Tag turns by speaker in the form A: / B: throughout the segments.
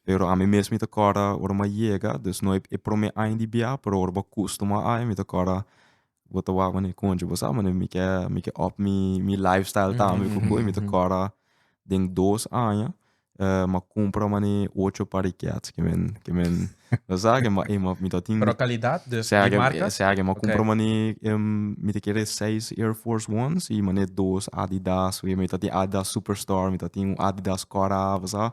A: Pero ami mes mi ta kòrda ora mi a yega, dus no e promé aña di biaha, pero ora bo a kustumá aña mi ta kòrda bo ta wak mane konchi bo sa mane mi ke mi ke up mi mi life style tambe ku ko i mi ta kòrda den dos aña m'a kumpra mane ocho par di kets ke men ke men bo sa ke mi a mi ta tin Pero kalidat? Dus
B: di marka? Sea ke mi a kumpra
A: mane mi ta kere seis air force ones i mane dos adidas mi ta tin adidas super star mi ta tin un adidas kòrda bo sa.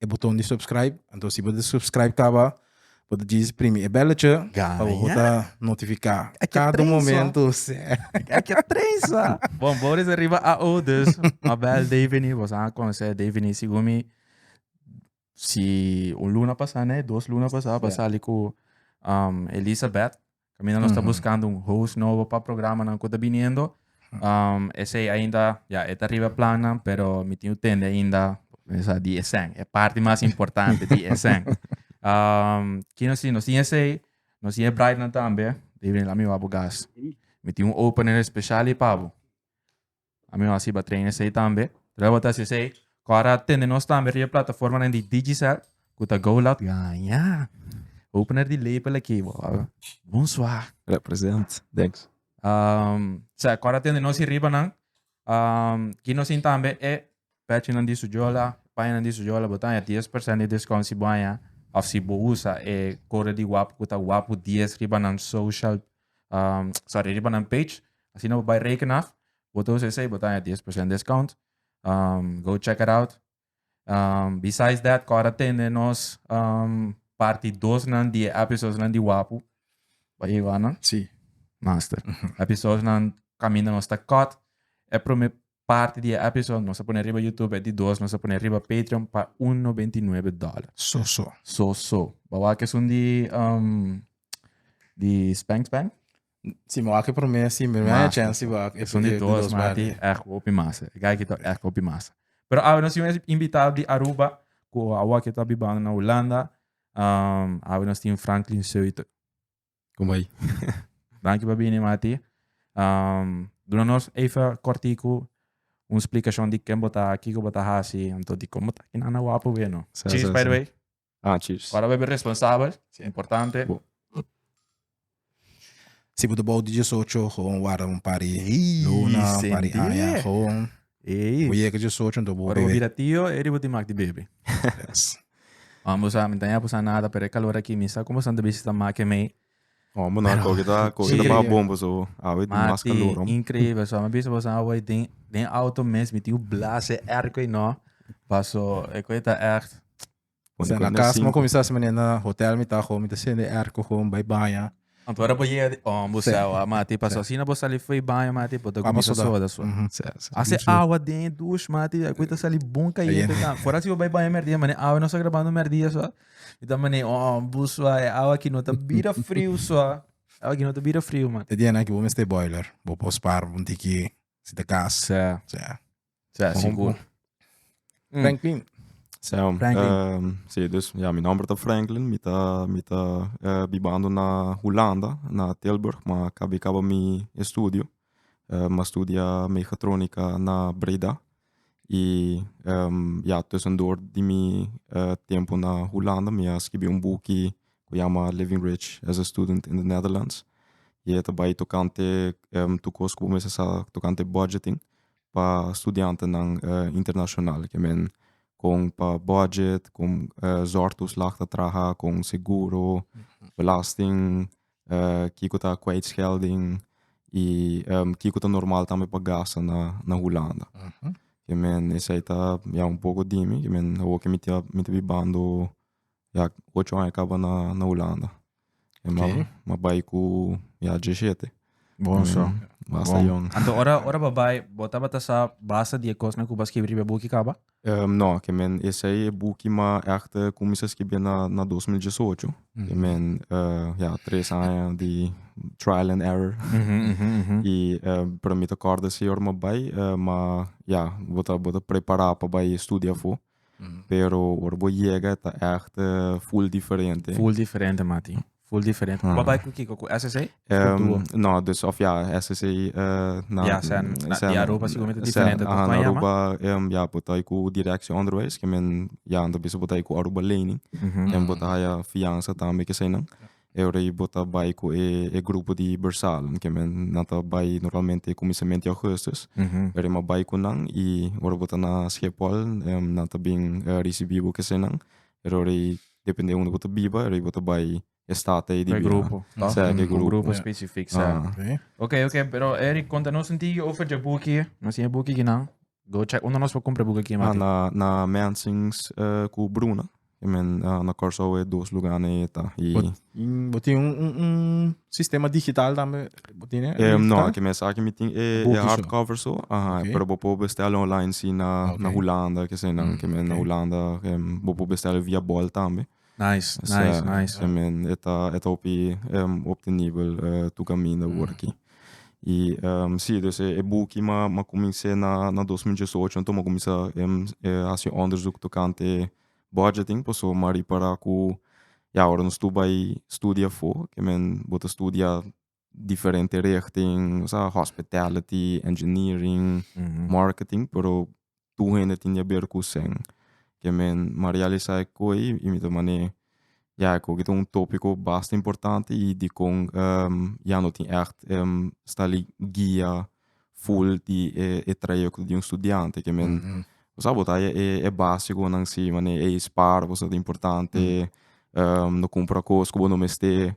C: e botón di subscribe. Anto si bo subscribe kaba, bo ta djis primi e belletje. Pa bo ta notifiká kada momento. Ek a
B: tresa. Bon, bo resa riba AO, dus ma bèl Davini. Bo sa konosé Davini sigun mi. Si un luna pasá nei, dos luna pasá, bo a sali ku Elisabeth. Kaminda nos ta buskando un host nobo pa programanan ku ta biniendo. Um, esei ainda, ya, e ta riba plannan, pero mi tin utende ainda, sa, di esèn. E parti mas importante di esèn. Um, ki nos tin? Nos tin esei, nos tin e bridenan tambe. Di bini la mi wou abo gas. Mi tin un opener espeshal i pa bo. a mihó a siba trein esei tambe. Terwijl bo ta hasi esei, kòrda a tende nos tambe riba e plataformanan di Digicel ku ta Go Loud. Ya, ya. Opener di lepel aki, bo a bon swa. Represent.
A: Thanks.
B: Sea, kòrda a tende nos ei ribanan, ki nos tin tambe e pèchinan di su jola, pañanan di su jola. Bo ta haña dies persènt di diskount si bo haña òf si bo usa e kode di Wapu ku ta Wapu dies riba nan social. Um, sa redi pa nan page. Asina bo bai reken af. Bo tos esei, bo ta 10% discount. Um, go check it out. Um, besides that, kora tende nos um, parti 2 nan di episodes nan di Wapu. Ba e wana? Sí.
C: Master.
B: episodes nan caminda nos ta cut. E primer Parti di e episode nos a pone riba YouTube e di dos nos a pone riba Patreon pa un nobenta i nuebe dollar. So so. So so. Ba wak esun di um, di Spank Spank? Si me
C: wak e primer, si me wak e chance, si wak e Esun di primer, dos dos mati mati.
B: echt hopi massa. E guy kita echt hopi massa. Pero awe nos tin un invitado di Aruba ku awa kita bibando na Hulanda. Um, awe nos tin Franklin Zeuthe. Como ahí?
A: Danki pa
B: bini Mati. Um, duna nos even kortiku un explicacion di ken bota, kiko bota hasi, anto di como ta kinan na wapo weer no. Sa, Cheers, sa, by the sa. way. Ah, cheers. Ora
A: we be responsabel,
B: si importante. Bo.
C: Si bo ta bou di diesocho, gewoon warda un par di luna, un par di Ise. aña, gewoon. Ey. Bo yega dje socho anto bo bebe. Ora bo bira tio e di bo
B: tin mak di bebe. Mamá bo sa mi ta ña posa nada pero e calor aki mi sa con boso anto bishi ta mak e mei. Oh bo na koki
A: ta koki ta baha bon paso bo awe tin mas calor. Mati increíble so mi bisa
B: boso awe den den auto mes mi tin un blase airco ey no paso e koe ta echt. Pone Sea, na
C: cuenta casa, mo cinco. comenzá así, na hotel mi ta gewoon, mi ta sende airco gewoon, bai baña. Anto ora bo yega di
B: ombo Sí. seo, ah, mati, paso asina bo sali fo'i baña, mati, bo ta Vamos cominsa sudar. soda, soda. Mhm. Sea, sea. Hace Douche. awa den douche, mati, a quita sali bon caliente. Caliente. ta. Fora si bo bai baña merdía, mané, awa no sa grabando merdía, so. Mi ta mané, ombo, so, e awa aki no ta bira frio, so. Awa aki no ta bira frio, mati. E diena aki bo mester boiler,
C: bo por spaar un tiki, si ta cas. Sea. Sea. Sa, Bon,
B: sigur. bon.
C: Mm. Franklin. Zo, Franklin.
A: ehm, sí, dus ja, mi nomber ta Franklin, mi ta, mi ta eh, bibando na Hulanda, na Tilburg, ma kabi kaba mi estudio. Eh, ma studia mechatronica na Breda. Y ehm, ja, tussendoor di mi eh, tempo na Hulanda, mi a skibi un buki cu yama Living Rich as a Student in the Netherlands. Y e ta bai tocante ehm, tur cos cu bo mester sa tocante budgeting. pa studiantenan internashonal ke men kon pa budget kon zòr toeslag ta traha kon seguro belasting kiko ta kwijtschelding i kiko ta normal tambe pa gasta na hulanda esei ta ya un poko dimi awor ke mi ta bibando Ya ocho aña kaba na Hulanda. Oké.
C: Ma bai ku
A: ya diesshete. Bon so.
B: Basta Bon. yòn.
A: Anto ora
B: ora bo
A: bai
B: bo tabata sa basta di e kosnan ku bo a skibri riba e buki kaba? Ehm, no, ke men
A: esei e buki ma ègt kuminsa skibia na na dos mil diesocho. Ke men eh, ya tres aña di trial and error. I eh, para mi ta kòrda esei ora mi a bai eh, ma ya bo ta bo ta prepará pa bai studia afó. pero ora bo yega ta echt full diferente. Full diferente mati,
B: full diferente. Bo bai ku kiko ku SSA? no,
A: dus of ya SSA na Ya
B: sen, na di Aruba siguramente diferente Aha, na Aruba
A: ya bo ta ku Direksio Onderwijs ke men ya anto bisa bo ta ku Aruba Lening en bo ta haya fiansa tambe ke eseinan. e ora ei bo ta bai ku e e grupo di Bersalen ke men nan ta bai normalmente kuminsament di Augustus pero e m'a bai ku nan i ora bo ta na Schepol nan ta bin risibí bo ke senan e ora ei depende unda bo ta biba e ora ei bo ta bai e stat ei di bira sa ke
B: grupo
A: spesifik
B: sa. Oke oke pero Eric konta nos un tiki over dje buki nos tin e buki kinan? Go check uno nos por compra buga aquí mati. Na na Mansings
A: uh, eh, cu Bruna. I men uh, na Corso e dos lugar ne eta. I bo tin un,
C: un, un sistema digital tambe bo tin? Eh, no, aki mes aki mi
A: tin e, e hardcover so. Aha, okay. pero bo po bestel online si na okay. na Holanda, ke se na, mm, ke men okay. na Holanda, um, bo po bestel via bol tambe. Nice, nice,
B: nice. E men
A: e ta e ta hopi um, op de nivel uh, tu caminda worki. Y um, sí, dus e, e buki ma, ma comencé na, na 2018, anto ma comencé um, eh, haci onderzoek tocante budgeting, paso ma ripara cu, ja, ora nos tu bai studia fo, que men bo ta studia diferente richting sa hospitality engineering marketing pero tur hende tin di a ber ku sèn ke men m'ha realisá e koi i mi ta mane ya e koki ta un tópiko basta importante i dikon ya no tin ègt sta li guia ful di e trayekto di un studiante ke men bo sa bo ta haña e básikonan si mane ey spar bo sa ta importante no kumpra kos ku bo no mester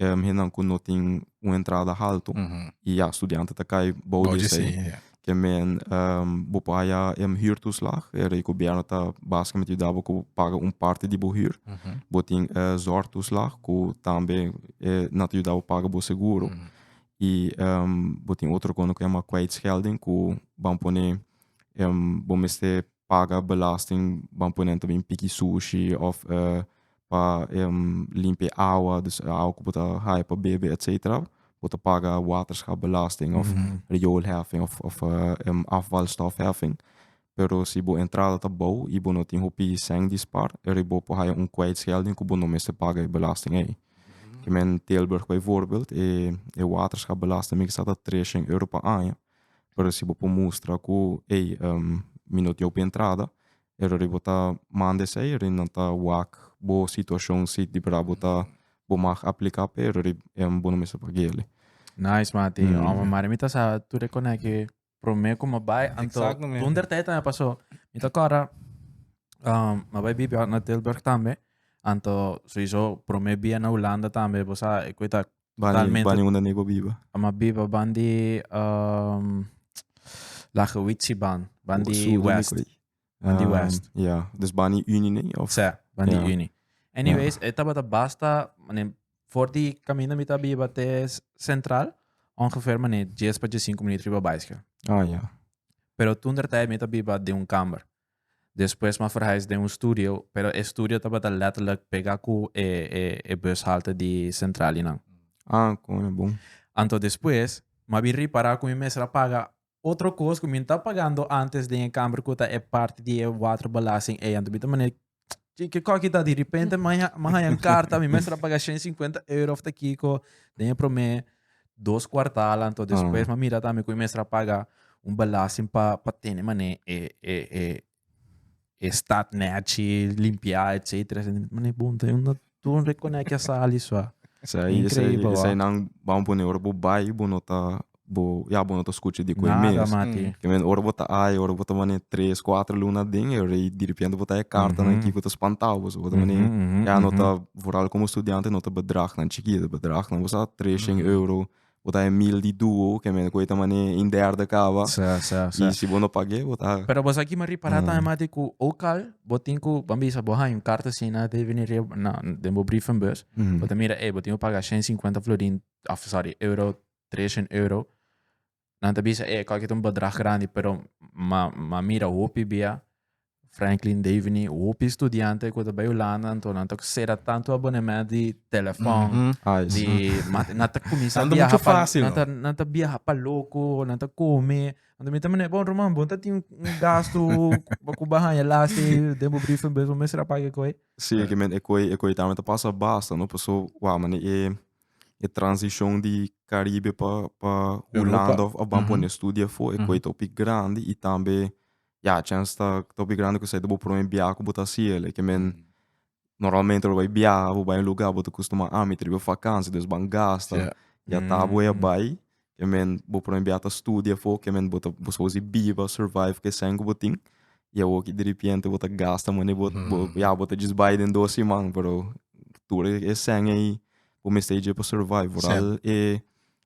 A: um, hennan ku no tin un entrada haltu i ya studiante ta kai bou di esei. Ke men um, bo por haya em huurtoeslag, e rei gobierno ta basikamente yuda bo ku paga un parte di bo huur. Bo tin e zorgtoeslag ku tambe e na ta yuda bo paga bo seguro. I um, bo tin otro kona ku yama kwijtschelding ku ban pone em, bo mester paga belasting ban pone nan ta bin piki sushi of pa limpi e awa dus e awa ku bo ta haya pa bebe etcetera bo ta paga waterschap belasting of rioolheffing of afvalstofheffing pero si bo entrada ta bou i bo no tin hopi cent di spaar ere bo por haya un kwijtschelding ku bo no mester paga e belasting ei kimen Tilburg bijvoorbeeld e waterschap belasting mi kasa ta treshent euro pa aña Pero si bo por mustra cu ey mi no diau bo entrada e rori bo ta manda esey e rori nan ta wak bo situacion si di bra bo ta bo mag aplica p'e rori bo no mester pag'e ale. Nice mati,
B: ome mari mi ta sa tur e cona cu prome cu mi bay anto dun der ta e ta mi paso mi ta corda mi bay bibi na Tilburg tambe anto soyiso prome bia na Hulanda tambe bo sa e cu e ta Bani, bani unda
A: nego biba. Ama biba ban di
B: um, lache witsi ban, ban di Su, west. Di, ban di west. Um, yeah. Dus bani
A: uni nee of? Sa, ban yeah. di uni.
B: Anyways, yeah. eta bata basta, manem, voor die camino met abi wat is centraal, ongeveer meneer 10 pa 15 minuut riba bicycle. Ah ja. Pero toen der tijd met abi wat de un kamer. Despues m'a verhuis den un studio, pero e studio tabata letterlijk pega cu e e e bushalte di Centralinan. Ah, con e
A: bon. Anto despues
B: m'a bin ripara cu mi mester a paga otro cos cu mi n'ta pagando antes den e camber cu ta e parti di e waterbelasting ei. Anto mi ta manera Ki, ki kokkie ta di repente man ya- man haya un carta, mi mester a paga 150 euro of ta kiko den e prome dos kuartal anto despues Ah. man mira tambe ku mi mester a paga un belasting pa pa tene mane e e e e stad nèt shi limpia etcetera. Mane bon ta yunda. Tur un rekoné ke a sali sua. Esei esei Increíble, esei nan bam
A: pone ora bo bai bo no ta bo ya bo no ta skucha di koe Nada mes. mati. Ke men
B: ora
A: bo ta
B: ai
A: ora bo ta mane tres kuater luna aden e rei direpente bo ta haya karta nan ki bo ta spantao bo so bo ta mane Ujú, ujú, ya no ujú. ta vooral komo studiante no ta bedrag nan chikit bedrag nan bo sa tres shen euro Bo ta Emil di duo, ke men ku e ta mane in derde kaba. Sa, sa, sa. I si bo no pag'é, bo ta. Pero bos a kiba ripará
B: tambe mas di ku òk al bo tin ku, ban bisa, bo haña un kart asina Dave Neria na den bo brievenbus, bo ta mira, ey, bo tin ku paga shen sinkuenta florin, òf sòri, euro, treshent euro. Nan ta bisa, ey, e kòrke ta un bedrag grandi, pero m'a mira hopi bia Franklin Davini, hopi studiante ku ta bai Hulanda, anto nan ta ku sera tantu abonement di telefon, Mhm. Ai, di ma nan ta kuminsá Anda biaha mucho pa fácil, nan no? ta nan ta biaha pa loko, nan ta kome. Anto mi ta manera, bon Roman, bon ta tin un un gastu pa ku bo a haña lasta ei den bo brievenbus, bo mester a paga e koi. Sí, ke men ekoi
A: ekoi tambe ta pasa basta, no? Paso wak manera e e transishon di Karibe pa pa Hulanda of a ban pone studia afó ekoi ta hopi grandi i tambe ya chance ta ta hopi grandi kusai ta bo prome biaha ku bo ta hasi el, e ke men normalmente lo bai biaha bo bai un luga bo ta kustumá ah mi ta riba vakansia dus ban gasta ya ya ta bo ya bai e men bo prome biaha ta studia afó ke men bo ta bo sabor si biba survive ku esei ku bo tin i awoki diripiente bo ta gasta mane bo bo ya bo ta djis bai den dos siman pero tur e esei ei bo mester dje pa survive vooral e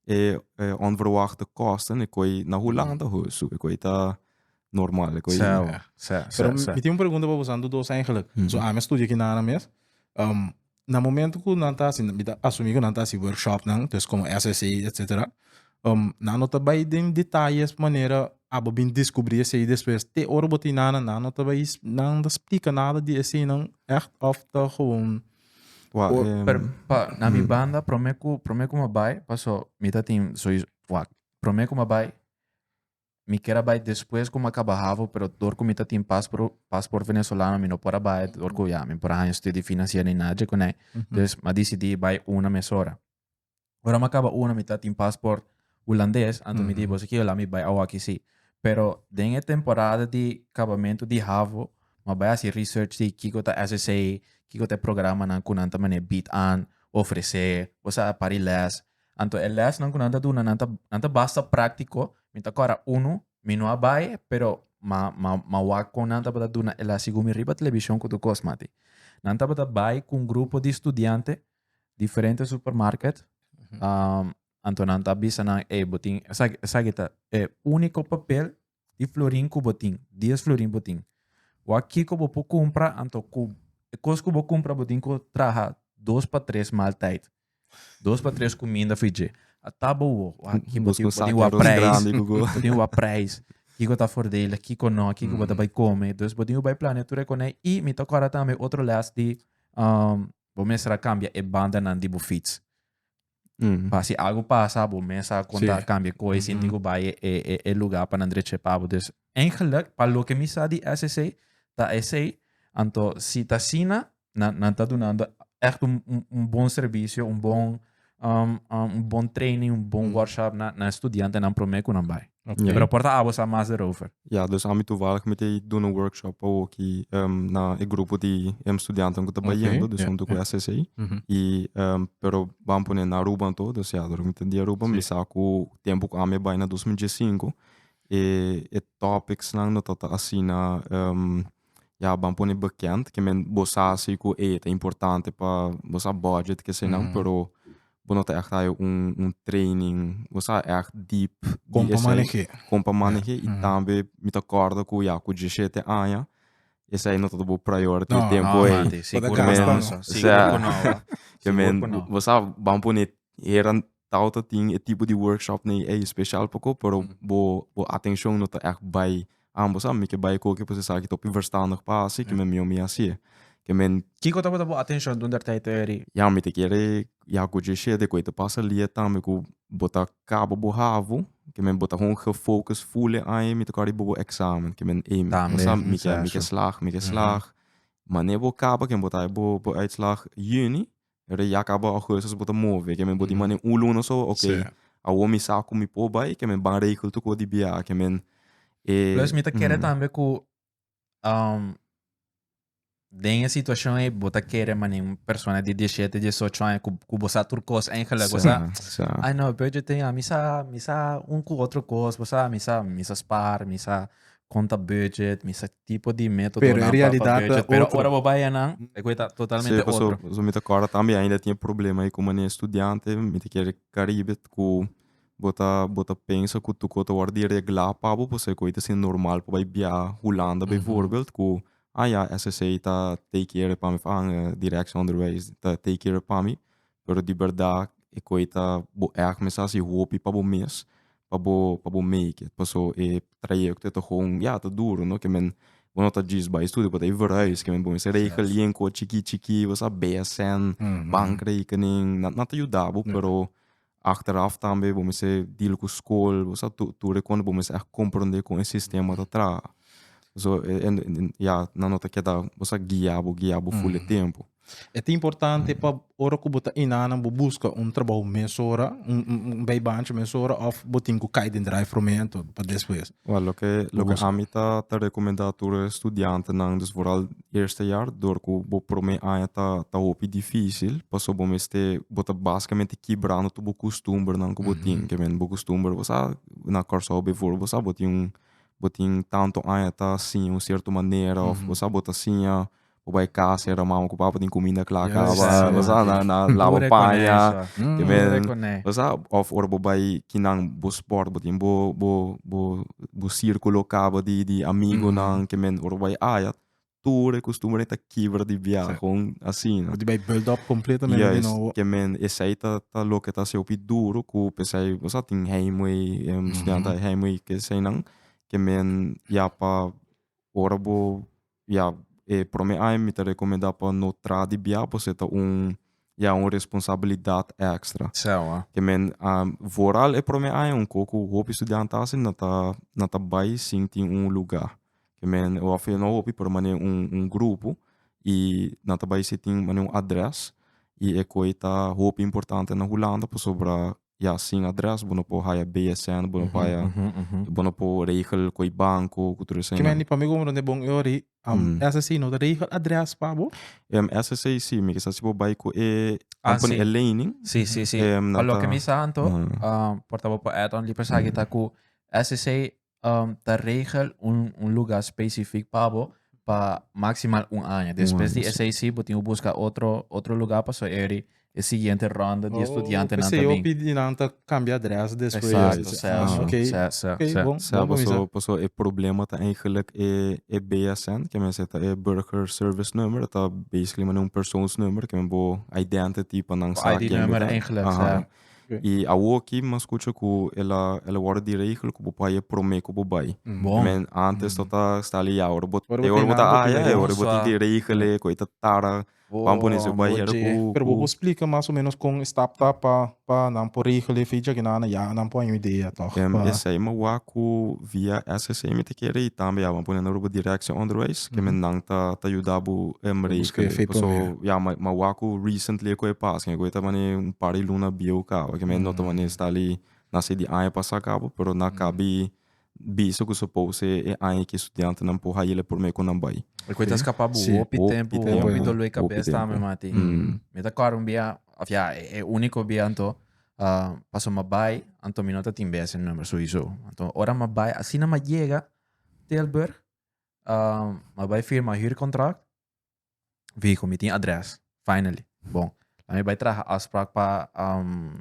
A: e e onverwachte kosten e koi na Hulanda ho su e koi ta normal e koi Sa, sa, Pero
C: sa, sa. mi tin un pregunta pa boso, nan do dos eigenlijk. Mhm. So ami a studia aki nana mes. Um, na momento ku nan ta hasi, mi ta asumí ku nan ta hasi workshopnan, dus komo SSA, etcetera. Um, nan no ta bai den detalles pa manera abo bin descubrí esei despues. Te ora bo ta hoi nana, nan no ta bai, nan no ta splika nada di eseinan ègt of ta gewoon Wak, Por, em, per, pa,
B: na mi banda, prome ku, prome ku ma bai, paso, mi ta tin, so, is- wak, prome ku ma bai, mi kier a bai despues ku ma kaba havo, pero dor ku mi ta tin paspro, pasport Venesolano, mi no por a bai, dor ku, ya, mi por a haña studi financier ni nada dje kuné. Entonces, m'a dicidi bai una mesora. Ora mi a kaba una mi ta tin pasport Hulandes, anto mi di boso ke la mi bai awaki si. Pero den e temporada di kabamentu di havo mi a bai hasi research di kiko ta SSA, kiko ta e programanan ku nan ta mane bied aan, ofresé, kusai apar di lès. Anto e lèsnan ku nan ta duna nan ta nan ta basta práktiko, mi ta kòrda unu mi no a bai pero mi a mi a mi a wak kon nan tabata duna e lès segun mi riba televishon ku tur kos mati. Nan tabata bai ku un grupo di studiante diferente supermarket um, anto nan ta bisa nan e botin esaki ta e único papel di florin ku botin 10 florin botin wa kiko bo po compra anto ku e kos ku bo compra botin ku traha dos pa tres mal tijd dos pa tres kuminda fije a tabo wo wa ki botin botin wa prijs botin wa prijs kiko ta fordele kiko no kiko mm. bota bai come dus botin u bai plane tu rekoné i mi ta kora tambe otro les di um, Bo mester a cambia e bandanan di bo fiets. Pa si algo pasa, bo mester a conta sí. cambia coe, sin digo baie e, e, e lugar pa nan dreche pabo. Dus, eigenlijk, pa lo que mi sa di SCC, ta esei, anto si ta sina, nan, nan ta dunando echt un, un, un bon servicio, un bon um, um, un bon training, un bon mm. workshop na, na estudiantenan promé ku nan bai. Okay. Yeah. Pero porta abo sa mas erover. Ja, dus ami toevallig
A: mi te doen een workshop pa ki um, na e grupo di um, studianten ku ta okay. bayendo, dus yeah. om ku ACC. Mm -hmm. I um, pero ban pone na Aruba en todo, dus ja, door mi te di Aruba, sí. mi sa ku tempo ku ami bai na 2015, e, e topics lang no tota asina um, ya ban pone bekend ke men bo sa si ku ey ta importante pa bo sa budget kesenan mm. pero bo no ta echt hay un un training bo sa echt deep kom pa maneje kom pa maneje yeah. y mm. tambe mi ta korda ku ya ku 17 aña esa aí no todo bo priority no, tempo no, aí seguro men, seguro no, seguro no. que men, você vamos poner eran Tao ta tin e tipo di workshopnan ei special poco, pero bo bo atencion no ta echt bay ambos. Sa mi ke bay cu oke p'esaki ta hopi verstandig pa haci, kimen mi homi haci'e. Kimen. Kico tabata bo atencion
B: dunda e ta e teoria? Ya, mi ta kere
A: ya cu José de cu e ta pasa lia tambe cu bo ta caba bo havo, kimen bo ta hoon gefocus full e aña, mi ta kor riba bo examen, kimen ey mi Tambe, sa mi ke mi ke exacto. slag, mi ke slag. Mane bo caba kimen bo ta haci bo bo uitslag juni, Bo ta yaka abo a huesas bo ta move ke men bo di mane un luna so ok Sí. awor mi sa ku mi por bai ke men ban regel tu ku di bia ke men
B: eh, Plus
A: mi ta
B: kere ujú.
A: tambe ku um,
B: den e situashon ei bo ta kere mane un persona di diesiete, diesocho aña ku ku bo sa tur kos engeleg, bo sa Sa, sa. Ai no, bro, yo te diga, mi sa, mi sa un ku otro kos, bo sa, mi sa, mi sa spar, mi sa, konta budget, misa ki tipo di metodonan Pero e pa- pa realidad ta budget.
C: Pero
B: otro. ora
C: bo bai
B: anan,
C: e
B: kue ta Sí, totalmente paso, otro. paso mi ta acorda tambe
A: ainda tin e problema ei ku mane estudiante mi ta kere Caribe ku bo ta bo ta pensa ku tur kos ta wòrdu di regla pa bo pasobra e kue ei ta siña normal pa bai biaha Hulanda Mhm. bijvoorbeeld ku ah ya SSA ta take care pami of ah direksonderwijs ta take care pami pero di berdad e koe ta bo ègt mester hasi hopi pa bo mes pa bo pa bo make it paso e trayekto ta gong ya ta duru no ke men bo no ta djis bai studio bo ta e verhuis ke men bo mester rei kalin koe chiki chiki bo sa bsn bank rekening nan nan ta yuda bo pero achteraf tambe bo mester deal ku skol bo sa tur tur e konde bo mester ègt komprende kon e sistema ta traha so ya nan no ta keda bo sa guia bo guia bo ful e tempo. E ta importante
C: pa ora ku bo ta inana bo buska un trabou mesora, un un bay bancha mesora of bo tin ku kai den drive thru mento pa despues. Wel, loke Bo loke
A: buska. ami ta ta rekomendá tur e studiantenan, dus vooral eerste jaar, dor ku bo promé aña ta ta hopi difísil, paso bo mester bo ta basikamente kibrando tur bo kustumbernan ku bo tin, ke men bo kustumber bo sa na Kòrsou bivoorbeeld bo sa bo tin un bo tin tantu aña ta siña un sierto manera of bo sa bo ta siña Bo bai casa e Romama cu papá tin cuminda cla a caba. Bo sa na, na laba paña. Te meen. Bo sa, of ora bo bai ki nan bo sport, bo tin bo, bo, bo, bo circulo caba di, di amigonan. Ke men, ora bo bai aya, tur e costumbre ta kibra di biaha. Con asina. Bo tin bai build up
C: completamente di nobo. Juist. Ke men,
A: esey ta, ta loke ta hasi hopi duro cu pesey, bo sa, tin heimwee, estudiantenan heimwee, ke eseynan. Ke men, ya pa ora bo. Ya e prome aña mi ta recomenda pa no tra di bia pues e ta un ya un responsabilidad extra. Sewa. Te men a vooral e prome aña un ko ku hopi studiante ta hasi nan ta nan ta bai sin tin un luga. Te men a wafia no hopi pero manera un un grupo y nan ta bai sin tin manera un adres y e ko ei ta hopi importante na Hulanda pasobra ya sin adres bo no por haya BSN, bo no por haya, bo no por regel cu e banco, cu tur esei. Kimendi pa mi como donde
C: bon e ori, um, SSC no ta regel adres pa bo? Um, SSC
A: si, mi kisa si bo bai cu e Ah, company si. Eleni, Si, si, si. em, Pa
B: nan loke ta- mi sa anto, Ujú. ah, por ta bo por add on li persaki ta ku SSC um, ta regel un, un lugar specific pa bo pa maximal un aña. Después di ese sí, bo timo busca otro, otro lugar pa so eri e siguiente ronda di oh, estudiante nan también. Oh, pidi nan
C: ta cambia adres después. Exacto, sí, ah, sí, okay.
B: sí, sí, okay,
C: sí. Bon, sí, bon, paso, paso, e
A: problema ta eigenlijk e, e BSN, que men zeta e Burger Service Number, ta basically men un persoonsnummer, que men bo identity pa nan sa ID nummer eigenlijk, sí.
B: Y awo
A: aki mi a scucha cu el a el a wordo di rey gelo cu bo por haya prome cu bo bay. Bon. Men antes no ta sali y ahora bo Ahora bo ta ahora tin bo ta nan bo tin haya ahora bo tin hermosa. di rey gele cu ey ta tara ban pone su bay hera Oye. cu Pero bo cu por splica
C: mas o menos con e stap ta pa pa nan por rey gele fecha que nan a yaga nan por haña un idea toch Em, pa esey mi a wak
A: cu via SSA mi ta kere y tambe ya bo a pone nan rubo directie onderwijs. ke men nan ta ta yuda bo embrei ke le paso ya ma ma wak ku recently e ku e pas ke ku e ta mane un par di luna bieu kaba ke men no ta mane sta li na si di aña pasa kaba pero na kabi bisa ku supos e e aña ke studiantenan por haila por me ku nan bai e ku e ta skapa bo
B: hopi tempo hopi dolor di kabes tambe me mati me ta kòrda un bia of ya e uniko bia anto paso ma bai anto mi no ta tin bese number sowieso anto ora ma bai asina ma yega Tilburg Um, a bai firma huurcontract. Vehicle, mi tin adres. Finally. Bon. A mi bai traha afspraak pa... Um,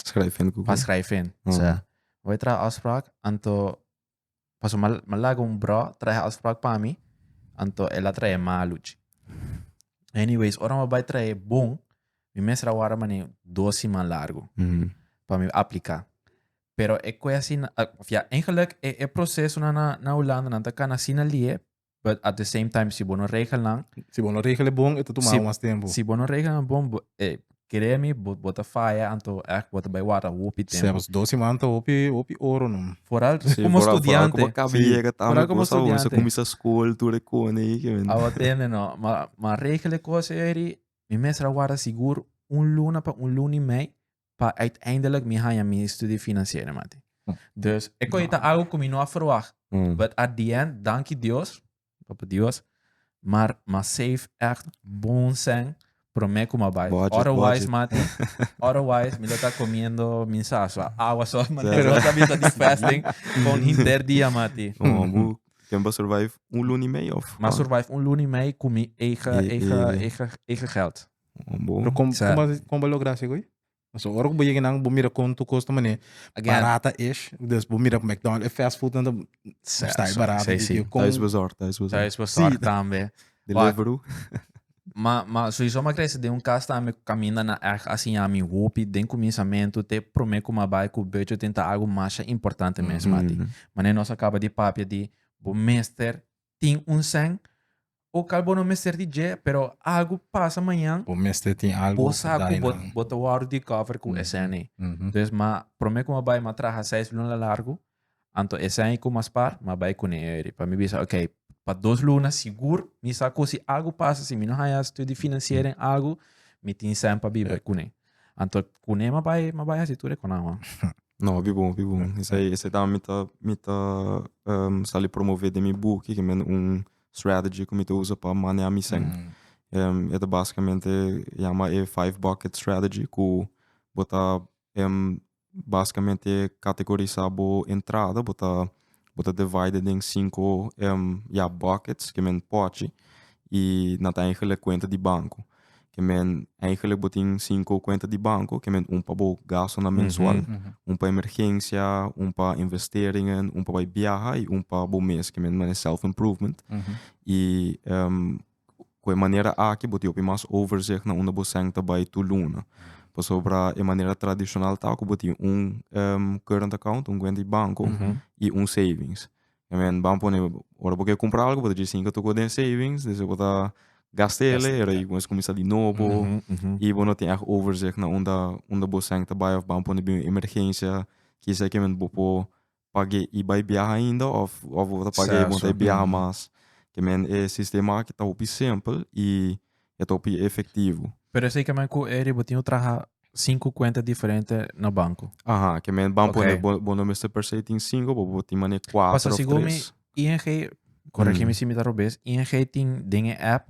B: schrijven. Pa schrijven. Mm. O sea, bai traha afspraak. Anto... Paso mal, mal laga un bro traha afspraak pa mi. Anto el a traha maluchi. Anyways, ora ma bai traha bon. Mi mesra wara mane dos siman largo. Mm. Pa mi aplica. Pero e kueshi nan, of ya, eigenlijk e e procesonan na na Hulanda nan ta kan asina lie, but at the same time si bo no regel nan, Si bo no regel e bon,
C: e ta tuma Si- mas tempo. si bo no regel nan bon,
B: bo, eh, kere mi, bo, bo ta faya, anto echt bo ta bai wata hopi tempo. Zelfs dos seman ta hopi,
C: hopi oro nom. Vooral Sí, como vooral- vooral
B: estudiante. como acaba Sí. llega Vooral
A: tambe como cosa hoy, se estudiante.
B: comienza school, tú
A: le cone y que men. Awa tende no, ma,
B: ma regel e cosa eri, mi mester a warda sigur un luna pa un luna y mei, pa uiteindelijk mi haña mi studie financiera mati. Dus e koe ta algo ku mi no a ferwagt. But at the end, danki Dios, Papa Dios, mar m'a save ègt bon sèn promé ku m'a bai. Budget, budget. Otherwise mati, otherwise mi lo ta komiendo mi sasa, awa so, mi lo ta bisa di
A: fasting
B: pa un hinter dia mati. Bon, bo ken
A: pa survive un luna i mei of? M'a survive un luna i
B: mei ku mi eigen, eigen, eigen, eigen gèld. Bo, Pero com,
A: sa-
C: como, como lo gracia
B: güey?
C: So, ora que bo llega nan, bo mira con tu costa mané, Again. barata ish.
B: Dus
C: bo mira McDonald's, eh, fast food, dan sa- está sa- barato. sa- dit sí. je, con- Thuis bezorgd,
B: thuis bezorgd.
A: Thuis bezorgd Sí.
B: tambe. Deliveroo.
A: Ma,
B: ma, sowieso ma kresi den un kas tambe ku kaminda na echt a siña mi hopi den kuminsamentu te promé ku ma bai ku budget tin ta algu masha importante mes, mati. Mhm. Mané nos a kaba di papia di bo mester tin un sèn. O kal bo no mester di dje, pero algu pasa mañan. Bo mester tin algu
C: ku daña. Bo sa ku bo
B: ta wòrdu di kòver ku e sèn ei. Entonces m'a promé ku m'a bai, m'a traha seis luna largu, anto e sèn ei ku m'a spar, m'a bai kuné ei ori. Pa mi bisa, ok, pa dos luna sigur mi sa ku si algu pasa, si mi no haña studi financiero den algu, mi tin sèn pa biba kuné. Anto kuné ma bai ma bai hasi tur e konan ho. No, hopi bon,
A: hopi bon. Esei, esei tambe mi ta, mi ta um, sali promové den mi buki, ke men un strategy ku mi ta usa pa manea mi sèn. Um, e ta basikamente yama e five bucket strategy, ku bo ta um, Basikamente kategorisá bo entrada, bo ta bo ta divaid'e den sinku ya bòkets ke men pòchi i nan ta eigelek kuenta di banko. Ke men eigelek bo tin sinku kuenta di banko, ke men ún pa bo gastunan mensual, ún pa emergensia, ún pa investeringen, ún pa bai biaha i ún pa bo mes ke men manera self improvement. Ku e manera aki bo ta hopi mas overzicht na unda bo senta bai tur luna. Pasobra e manera tradishonal ta ku bo tin un current account, un kuenta di banko i un savings. También ban pone ora bo ke kumpra algu bo ta djis tin ke tokob'o den savings despues bo ta gasta ele i ayi kuminsa kuminsá di nobo i bo no tin ègt overzicht na unda bo senta bai òf ban pone bin un emergensia kisa e ke momento bo por pag'é i bai biaha ainda òf òf bo ta pag'é bo ta e biaha mas. Ke men e sistema aki ta hopi simpel i e ta hopi efektivo. Pero esei kemen ku
B: eri bo tin ku traha sinku kuenta diferente na banko? Aha, ke men ban
A: pone bo bo no mester per se tin sinku bo bo tin manera kuater òf tres. Paso sigun mi,
B: ING, koregi mi si mi ta robes, ING tin den e app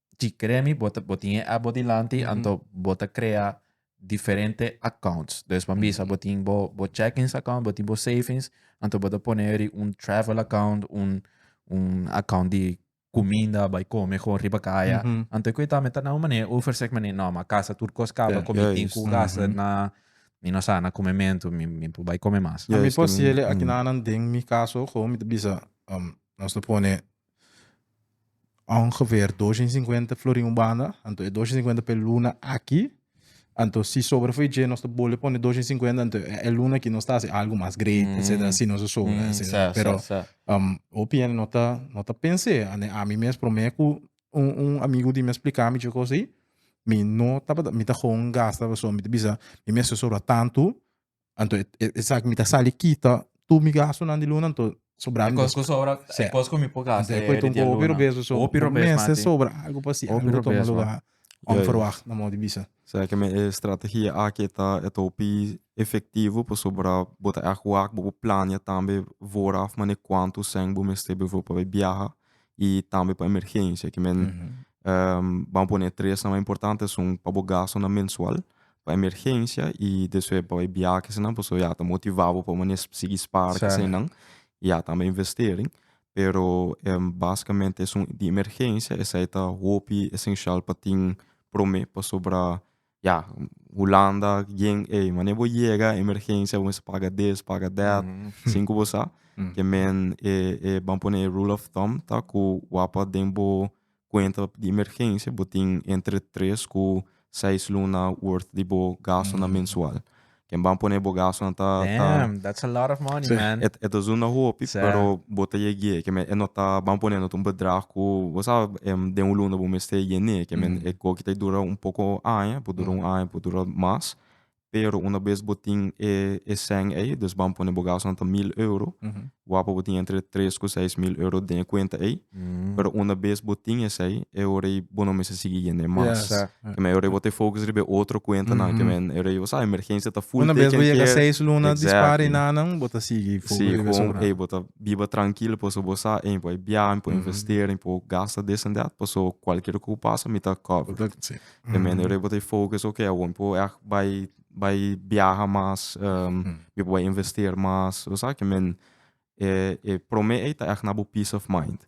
B: Chi kremi bo ta bo tin e app bo dilanti anto bo ta krea diferente accounts. Dus pa bisa bo tin bo bo checkings account, bo tin bo savings, anto bo ta pone eri un travel account, un un account di kuminda bai kome kon riba kaya. Anto ku e ta mi ta na un manera overzicht manera no ma kasa tur kos kaba ku mi tin ku gasta na mi no sa na kumementu mi mi por bai kome mas. Mi por si aki
C: nan nan den mi kaso ho mi ta bisa nos ta pone ongeveer dosha i sinkuenta florin un banda, anto e dosha i sinkuenta pa e luna aki, anto si sobra fo'i dje nos ta bole pone dosha i sinkuenta, anto e luna aki nos ta hasi algu mas great, etcetera, si nos a sobra, etcetera. Pero hopi hende no ta no ta pens'e, and ami mes promé ku un un amigu di mi a spliká mi dje kos ei, mi no tabata mi ta hon gasta pasobra mi ta bisa mi mester sobra tantu Anto esaki mi ta sali kita tu mi gastonan di luna, anto sobra mi Kos ku sobra, Sep.
B: kos ku mi por gasta Anto e koi e di tonko dia hopi luna. robes so
C: so. Hopi robes, Mester mati. sobra algo pa si Hopi algo toma robes, lugar. Ja, ja. Onverwacht, na modo di bisa. Será que mi e
A: strategia aki e ta e ta hopi efectivo pasobra bo ta èk wak bo por plania tambe vooraf maneer kuantu cent bo mester bijvoorbeeld pa bai biaha i tambe pa emergencia. Ki men Ban pone e tres mas importante esun pa bo gastunan mensual, pa emergensia y despues pa e biahenan pasobra ya ta motiva bo pa bo mane sigui spara eseinan y ya tambe investering. Pero basicamente esun di emergensia esei ta hopi esencial pa tin prome pasobra Ya hulanda yen ey mane bo yega emergencia bo mester paga this paga that sin cu bo sa ke men e e ban pone e rule of thumb ta cu wapa den bo cuenta di emergencia bo tin entre tres cu seis luna worth di bo gastonan mensual Ken ban pone bo gasonan ta ta Damn, that's a lot of
B: money, Sí. man. e, e ta zunda hopi,
A: Sí. pero bo ta
B: yeg'é.
A: Ke men e no ta ban pone no ta un bedrag ku bo sa em den un luna bo mester yen'é. Ke men Mhm. e koki ta dura un poko aña, por dura un aña, por dura mas. Pero una bes bo tin e e sèn ei, dus ban pone bo gasonan ta mil euro, Mhm. Wapo bo tin entre tres ku seis mil euro den e kuenta ei, pero unda bes bo tin esei e ora ei bo no mester sigui yend'e mas. Kemei e ora ei bo ta e fokus riba e otro kuentanan, kemei e ora ei bo sa emergensia ta full teken kier. Unda bes bo yega seis
C: luna
A: dispara i
C: nannan bo ta sigui fokus riba esun nan. Si, kon ei bo ta
A: biba trankil paso bo sa ei mi por biaha, mi por investera, mi por gasta this and that paso kualkier ku pasa mi ta cover. Kemei e ora ei bo ta e fokus, ok awor mi por yak bai bai biaha mas, mi por bai investeer mas. Bo sa ke men, e e prome ei ta ègt na bo peace of mind.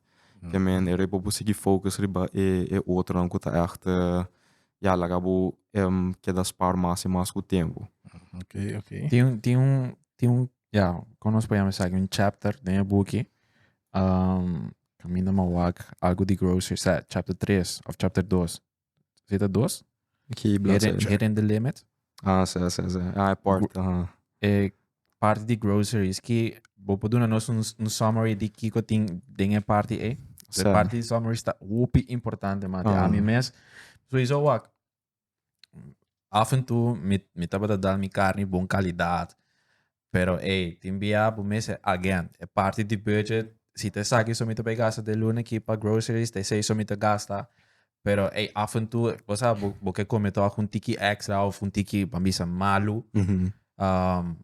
A: Ke men e riba bo sigui focus riba e e otronan ku ta ègt ya laga bo keda spaar mas i mas ku tempu.
C: Tin un tin un
B: tin un ya kon nos por yama esaki un chapter den e buki kaminda ma wak algu di grocery sa chapter tres òf chapter dos Zeta dos. Ki bladzij Hidden,
A: Hitting the
B: Limit. Ah, sí, sí, sí.
A: Ah, e port. Aha. E
B: parte di groceries ki bo por duna nos un, un summary di kiko tin den e parte e. So, Sa. e parte di summaries ta hopi importante, mate. Ah. A mi mes, sowieso wak, Af en toe mi, mi tabata da mi carni bon calidad. Pero ey, tin bia bo mester, again, e parti di budget, si ta esaki so mi ta bay gasta de luna aquí pa groceries, ta esey so mi ta gasta. Pero ey, af en toe, cosa bo, bo ke come toch un tiki extra of un tiki, pa bisa malu. Um,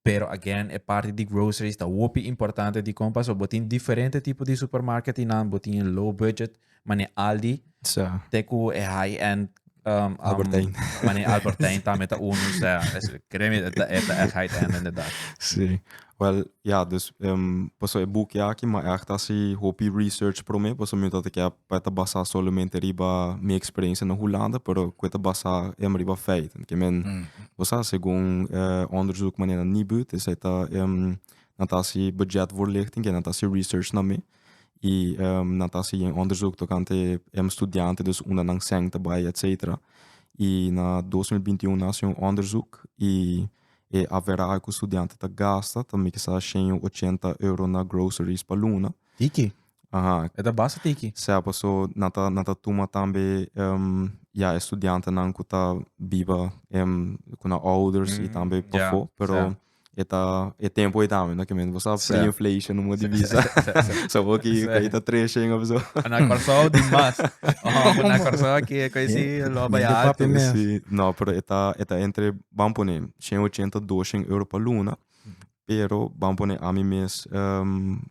B: Pero again e parti di groceries ta hopi importante dikon paso bo tin diferente tipo di supermarket y nan bo tin e low budget mane Aldi Sa. te ku e high end um, um, Albertijn.
A: mane Albertijn
B: tambe ta uno o sea es kremi e ta e ta echt high end inderdaad Sí.
A: Wel, ja, dus em, paso e boekje aki, ma echt hasi hopi research promé, paso mi ta te kep pa e ta basá solamente riba mi eksperensia na Hulanda, pero ku e ta basá em riba feiten, ke men bo sa segun e onderzoek manera Nibud, esei ta em nan ta hasi bujetvoorlichting, ke nan ta hasi research na mi, i em nan ta hasi onderzoek tokante em studiante, dus unda nan sèn ta bai etsetera. I na dos mil binti un nan hasi un onderzoek i e averahe ku studiante ta gasta ta mikesa shen ochenta euro na groceries pa luna. Tiki.
B: Aha. E ta
A: basta tiki.
B: Sea paso nan ta
A: nan ta tuma tambe em ya e studiantenan ku ta biba em ku nan ouders i tambe Mm, ya, pafó, pero sa. e ta e tempu ei tambe no kimente bo sa Sa. pre-inflation un moti bisa. Sa, sa, sa. Sa bo ki Sa. ei ta tres shenga paso. A na Kòrsou di
B: mas. Ohon, bo na Kòrsou aki e koe si lo bai Minder papi altu. mes. Si, no, pero
A: e ta e ta entre, ban pone, shen ochenta, doshen euro pa luna, Pero bam pone ami mes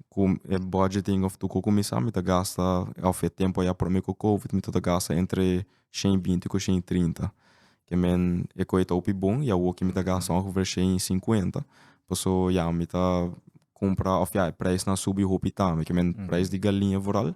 A: ku e budgeting of tu ku kuminsá mi ta gasta of e tempu ayá promé ku covid mi tabata gasta entre shen i binti ku shen i trinta ke men e koe ta hopi bon i awoki mi ta gasta ongefè shen i sinkuenta paso ya mi ta kumpra of ya e preisnan a subi hopi tambe ke men preis di galiña vooral.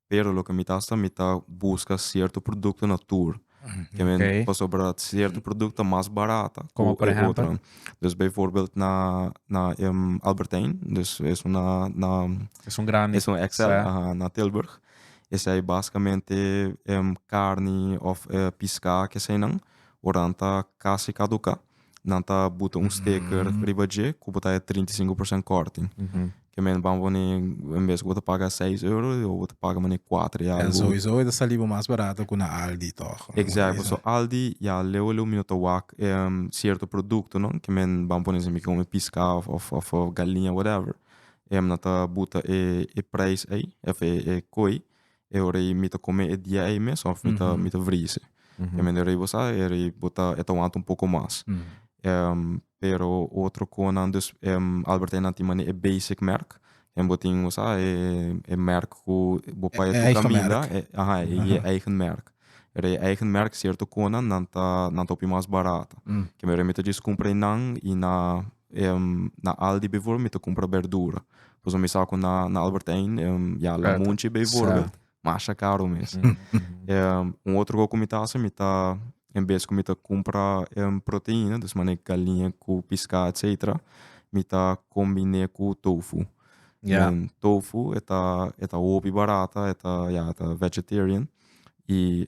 A: pero loke mi ta hasta mi ta buska sierto produkto na tur ke men pasobra sierto produkto ta mas barata ku e otro
B: dus bijvoorbeeld
A: na na Albertijn dus esun na na esun
B: grandi esun xl
A: aha na Tilburg esei basikamente karni òf piská ke eseinan ora nan ta kasi kaduká. nan ta buta un sticker riba dje ku bo ta haya trinta i sinku por sènt kòrting. Ke mene ban pone en bes ku bo ta paga seis euro yo bo ta paga manera kuater i algu. En sowiso e ta sali bo mas
C: barato ku na Aldi tòg. Exact, pasobra Aldi
A: ya leu leu mi no ta wak cierto productonan ke men ban pone esempel ke come pisca of galinha whatever nan ta buta e prijs ei of e kooi E ora ei mi ta kome e dia ei mes òf mi ta mi ta vrisi. E mende rei bo sa e rei bo ta e ta wanta un poko mas. Pero otro konan dus Albertijnnan tin mane e basic merk, den bo tin bo sa e merk ku bo pa e tur kaminda aha e je eigen merk. Pero e eigen merk sierto konan nan ta nan ta hopi mas barato. Kende mi ta djis kumpra einan i na Na Aldi bijvoorbeeld mi ta cumpra berdura. Pasobra mi sa cu na Albert Heijn ya la munchi bijvoorbeeld masha caro mes. Un otro cosa cu mi ta hasi mi ta en bes cu mi ta cumpra proteina dus manera galinja cu pisca etcetera mi ta combine cu tofu. Den tofu e ta hopi barata e ta vegetarian y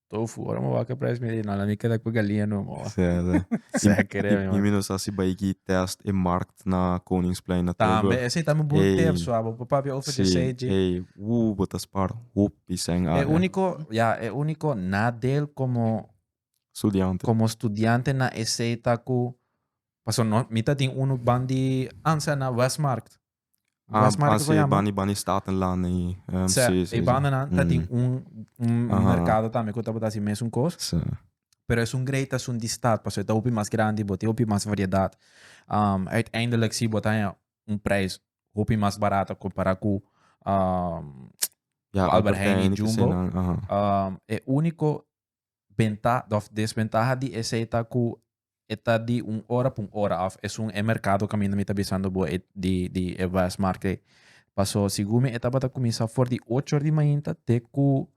B: Tofu, ora mi wak e prijs mi di no, lami keda ku galinja no mo. Seker
A: e mi man. Y mi no sa si bai ki test e markt na Koningsplein na Tilburg. Tambe, esei tambe un bon Ey.
B: tip sua, bo papia Ey, overgesei dje. ey, woe,
A: bo ta spaar hopi seng E área. único, ya,
B: e único nadeel como
A: Studiante. como studiante
B: na esei ta ku paso no mi ta tin uno ban di Ansa na Westmarkt. Ah, Las Marcas lo ah, sí, llama. Bani Bani Statenland ahí.
A: Um, Sea, sí, sí, e sí. bandanan
B: ta tin un, un Aha. mercado también que tabata así mesun cos. Sí. Pero es un grey tas un di stad, paso eta hopi mas grandi, bo te hopi mas variedad. Um, uiteindelijk si bo taya un prijs hopi mas barato compara cu um, Ja, Albert Heijn y Heijn, Jumbo. Aha. um, e único Bentaha of desbentaha di esei ta ku e ta di un ora pa un ora of esun e merkado kaminda mi ta bisando bo e di di e vrijheidsmarkt ei. Paso segun mi e tabata kuminsá for di ocho or di mainta te ku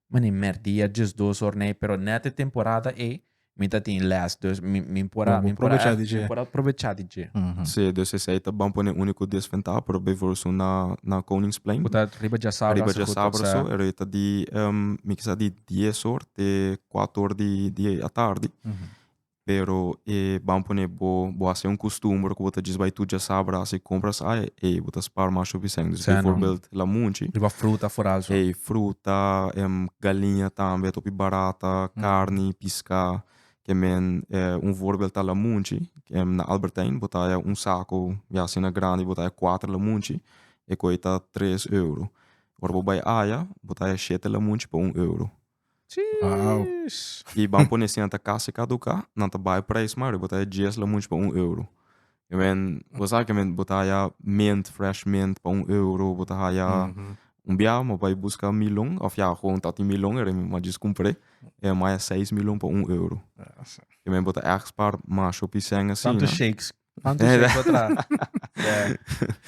B: manera mèrdia djes dos or nei pero nèt e temporada ei mi ta tin lès dus mi mi por a mi por a mi por a probechá di dje. Sí, dus esei ta
A: bon pone úniko desbentaha por bijvoorbeeld esun na na Koningsplein. Ku ta riba Djasabra
B: asoku tokse. Ku ta riba Djasabra aso, e roi
A: ta di mi kisa di. Dies or te kuat or di atardi. Pero e ban pone bo bo hasi un kustumber ku bo ta djis bai tur dja sabra hasi kompras ai ei bo ta spaar masha Vicente. Dus bivoorbeeld lamunchi. Riba fruta foral
B: so. Ei fruta,
A: galiña tambe a topi barata, karni, piská. Ke men un voorbeeld ta lamunchi na Albert Heijn bo ta haya un sako ya asina grandi bo ta haya kuater lamunchi e koi ta tres euro. Ora bo bai aya, bo ta haya shete lamunchi pa un euro.
C: I
A: ban pone siña ta kasi kaduka, nan ta bai prijs mari, bo ta haya dies lamunchi pa un euro. I mean, bo sa ke men, bo ta haya mint, fresh mint pa un euro, bo ta haya, un bia mi a bai buska milon, of ya, gewoon ta tin milon ere, mi a djis kumpr'e, e mi a haya seis milon pa un euro. I mean, bo ta èk spar masho pisèn asina.
B: Anto sei pa tra.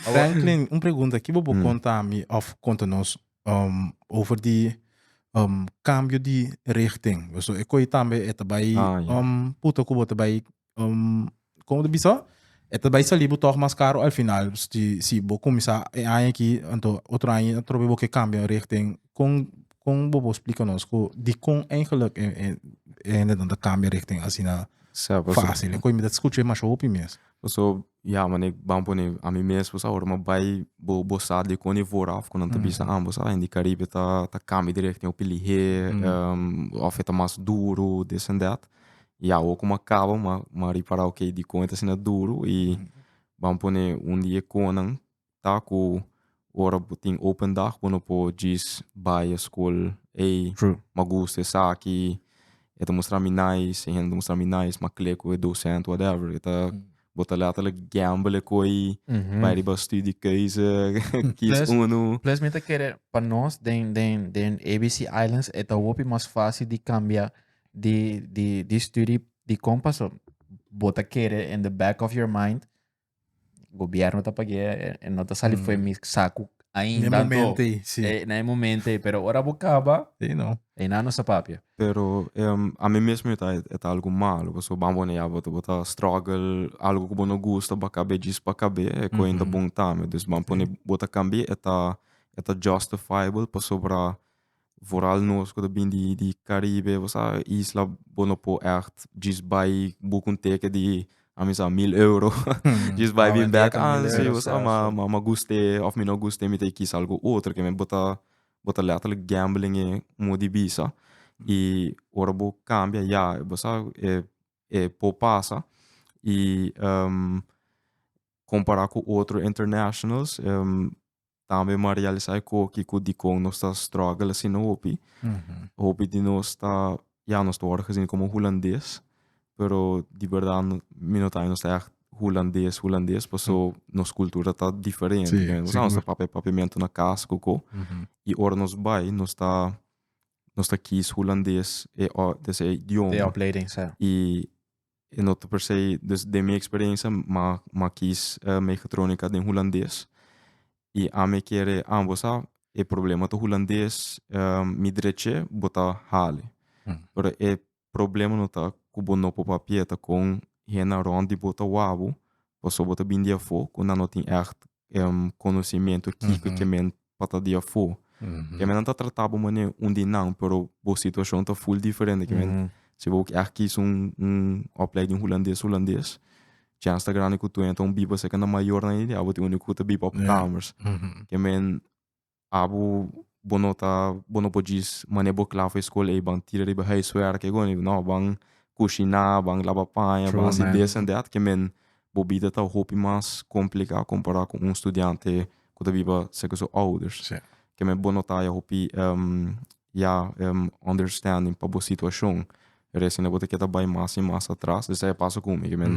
B: Franklin,
C: un pregunta. Kibo bo konta ami of konta nos um, over di um, kambio di richting? So, e koi tambe e ta bai Ah, ja. um, puta ku bo ta bai um, kon ta bisa? E ta bai sali bo tog mas karo al final. Si, si bo kumisa e aña aki, anto otro aña atrobe bo ke kambia richting. Kon Kon bo por splika nos ku dikon eigelik e e hendenan ta kambia richting asina Sa paso. fásil? En kon mi ta skucha e masha hopi mes. Paso, ya
A: mané ban pone ami mes pues awor ma bai bo bo sa dikon e vooraf ku nan ta bisa ambo sa en di Karibe ta ta kambia di richting hopi lihé òf e ta mas duru this and that i awor kuma kaba ma ma ripará okay dikon e ta asina duru i ban pone un di e konan ta ku ora bo tin open dag bo no por djis bai eskol ey ma gusta esaki e ta mustra mi nice e hende ta mustra mi nice ma kle ku e docent whatever e ta bo ta letterlijk gamble e koe bai riba studi keuze kies uno Plus mi ta kere
B: pa nos den den den ABC islands e ta hopi mas fácil di kambia di di di studi di kon paso bo ta kere in the back of your mind Gobierno ta pagu'é, e, e no ta sali mm. fue mi saku ainda. Na momento ei, sí. E, na momento ei, pero ora bocaba, ei no. Ei na no
C: sa papia.
B: Pero um,
A: a mí mesmo está está algo malo, porque van bueno ya bota bota struggle, algo que bono gusta, ba cabe jis pa cabe, é que ainda bom tame. Dus van pone bota cambie está está justifiable para sobra Vooral nos ku ta bin di di Karibe, bo sa, isla bo no por ècht djis bai boek un teke di, a mi sa, mil euro. Djis bai bin bèk, a si, bo sa, ma, ma, ma guste òf mi no guste, mi ta e kisa algu otro ke mi bo ta, bo ta lètterlijk gambelen e moe di bisa. I ora bo kambia ya, bo sa, e e por pasa. I kompará ku otro internashnals tambe m'a realisa e koe kiko dikon nos ta struggle asina hopi. Hopi di nos ta, ya, nos ta wòrdu gesi komo hulandes, pero di berdad mi no ta haya nos ta ègt hulandes, hulandes, pasobra nos kultura ta diferente. Sí, Nos siguer. ta papia
C: e papiamentu
A: na kas koko. I ora nos bai, nos ta, nos ta kis hulandes, e, o, dese e idioma. De opleiding, sa. I E no ta per se, dus den mi experiencia mi a kies mechatronica den Hulandes. Y ami kere ambo sa, e problema ta Hulandes, mi dreche bo ta hale. Pero e problema no ta cu bo no por papia ta con hennan rond di bo ta wawbo, pasobra bo ta bindi afo cu nan no tin echt em, conocimiento kiko ke men pata di afo. Ke men nan ta trata bo manera un di nan, pero bo situacion ta full diferente ke men. Si bo ke a kis un, un opleiding hulandes, hulandes, chance ta grandi ku tu entra un biba, seken na mayornan ei di abo tin unu ku ta biba op kamers. Ke men Abu bo no ta bo no por djis mane bo kla for skol ey ban tira riba huiswerk ey goni no ban kushina ban laba paña ban hasi this and that ke men bo bida ta hopi mas komplika kompara ku un studiante ku ta biba serka su ouders ke men bo nota ya hopi Ya em understanding pa bo situacion. Resende bo ta kier ta bai mas i mas atras. Esei a pasa cu mi, cu men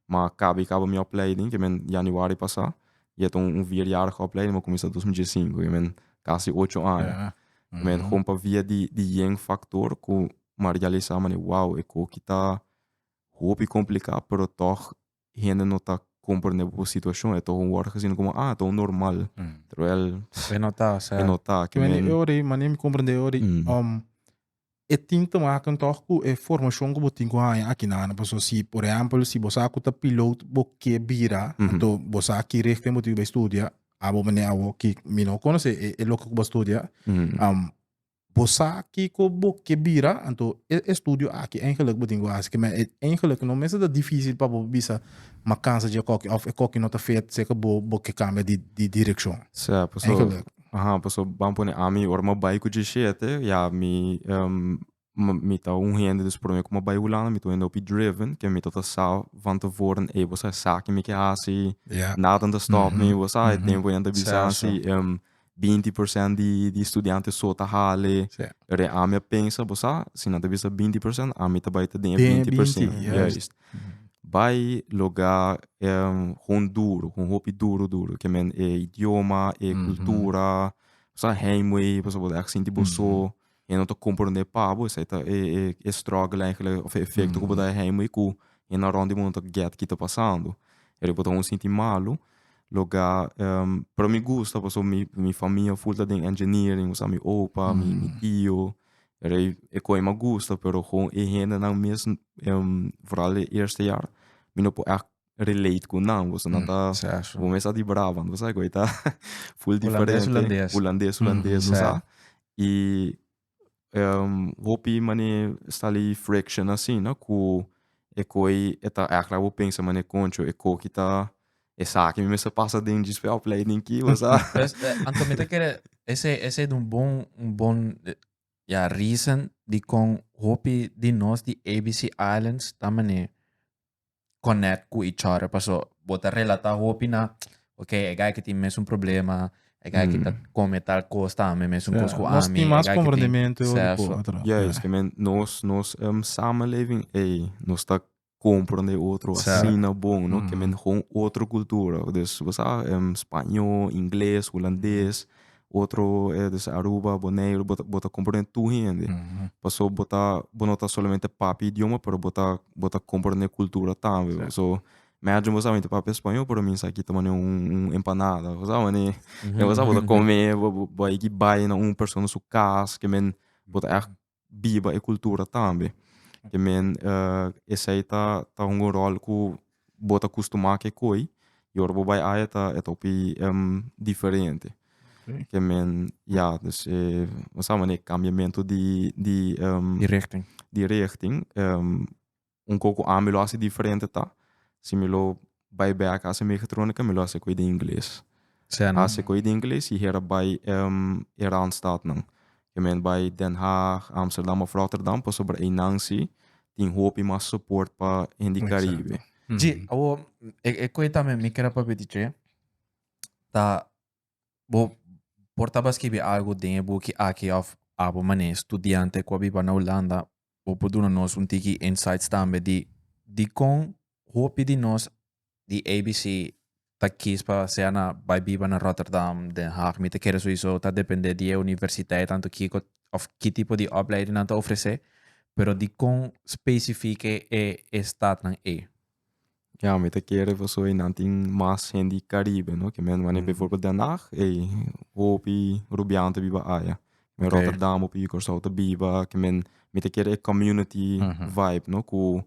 A: a caba i caba mi opleiding, cu men januari pasa, i e ta un vierjarige opleiding, mi a cuminsa dos mil dies i sinku, cu men casi ocho aña. Cu men hopi pa via di yen factor cu mi a realisa, mane, wow, e coki ta hopi complica, pero tog hende no ta comprende bo situacion, e ta un wòrdu gezien como ah, ta un normal, terwijl E no ta, o sea. e no
B: ta. Ki Mane men, e ora ei,
A: mane mi comprende
C: e ora ei, Mm. um, e tin te maken toch cu e formacion cu bo tin cu haña aki na Ana. Paso si, por ehempel, si bo sa cu ta piloot, bo ke bira, Mhm. anto bo sa ki richting bo tin cu bay studia, abo mane awo ki mi no conoce e, e loke cu bo a studia, mm, um, Bo sa kiko bo ke bira, anto e estudio aki eigenlijk bo tin ku hasi kime. E eigenlijk no mester ta difisil pa bo bisa ma kansa dje koki òf e koki no ta feet seka bo bo ke kambia di di direkshon. Sea, paso,
A: Eigenlijk. aha, paso ban pone ami ora mi bai ku djeshete ya mi mi mi ta un hende dus promé ku mi a bai Hulanda mi ta un hende hopi driven ke mi tabata sa van te voren ey bo sa esaki mi ke hasi, Ya. nada no ta stòp mi, bo sa e tempu yanta bisa Sa, sa. hasi binti persènt di di studiante so ta hale. Sí. Pero ami a pensa, bo sa, si nan ta bisa binti persènt, ami ta bai ta den e Den e binti persènt. binti, juist. Juist. Bai loga em, houn duru, houn hopi duru duru. Ke men e idioma, e Mhm. kultura, sa heimwee, pasobra bo ta èk sinti bo so. e no ta comprende pa bo esai ta e e e struggle eigenlijk of e efecto ku bo ta hei muy ku e na rond di mundo ta get kita pasando pero bo ta honger sinti malo loga pero mi gusta paso mi mi famia full ta den engineering mi sa mi opa mi mi tio rei e koi mi a gusta pero gon e hendenan mes vooral e eerste jaar mi no por echt relate cu nan, boso nan ta, bo mes sa di Brabant, bo sa cu ei ta full diferente. Hulandes, Hulandes. Hulandes, bo sa. Y hopi mane stali friction asina cu ecu ei e ta act like bo pensa mane concho e coki ta, esaki mi mester pasa den djispe opleiding ki, bo sa. Anto mi ta
B: kere, ese, ese un bon, un bon, ya, reason dicon hopi di nos di ABC Islands ta mane connect cu e chore paso bo ta relata hopi na ok e guy aki tin mesun problema e guy aki ta come tal cos tambe mesun cos cu ami nos tin mas comprendimento
C: e ora cu otro ya es
A: ki men nos nos samenleving ey nos ta comprende e otro asina bon no ke men otro cultura dus bo sa spaño ingles hulandes otro es Aruba, Boneiru, bo ta bo ta komprende tur hende. Paso bo ta bo no ta solamente papia e idioma pero bo ta bo ta komprende e kultura tambe. Paso mi ajo bo sa mi ta papia spañó pero mi sa kita maneho un un empanada bo sa manera bo ta kome bo bo bo a hiki bai na un persona su kas ke men bo ta ègt biba e cultura tambe te men esai ta ta un rol cu bo ta custuma ke koe y ora bo bai aya ta ta hopi diferente te men ya dus e bo sa mane e cambiamento di di richting un kos ku ami lo hasi diferente ta si mi lo bai bè a kasa megatronika mi lo hasi ku e di ingles. Hasi ku e di ingles i hera bai e randstadnan. Ke men bai Den Haag, Amsterdam òf Rotterdam pasobra einan si tin hopi mas soport pa hende di Karibe. Dje,
B: awor e koe tambe mi kere papia di dje ta bo por tabata skibi algu den e buki aki òf apo manera studiante ku a biba na Hulanda Bo por duna nos un tiki insights tambe di dikon hopi di nos di ABC ta kies pa sea na bai biba na Rotterdam, Den Haag, mi ta kere souiso ta depende di e universiteit tanto kiko of ki tipo di opleiding nan ta ofrece, pero dikon specifiek e e stadnan ey. Ya
A: mi ta kere pasobra so einan tin mas hende di caribe, no? Ke men wani bijvoorbeeld Den Haag, ey, hopi Rubianen ta biba aya. Den Rotterdam hopi
B: Curaçao ta
A: biba. Ke men, mi ta kere e community vibe, no? Ku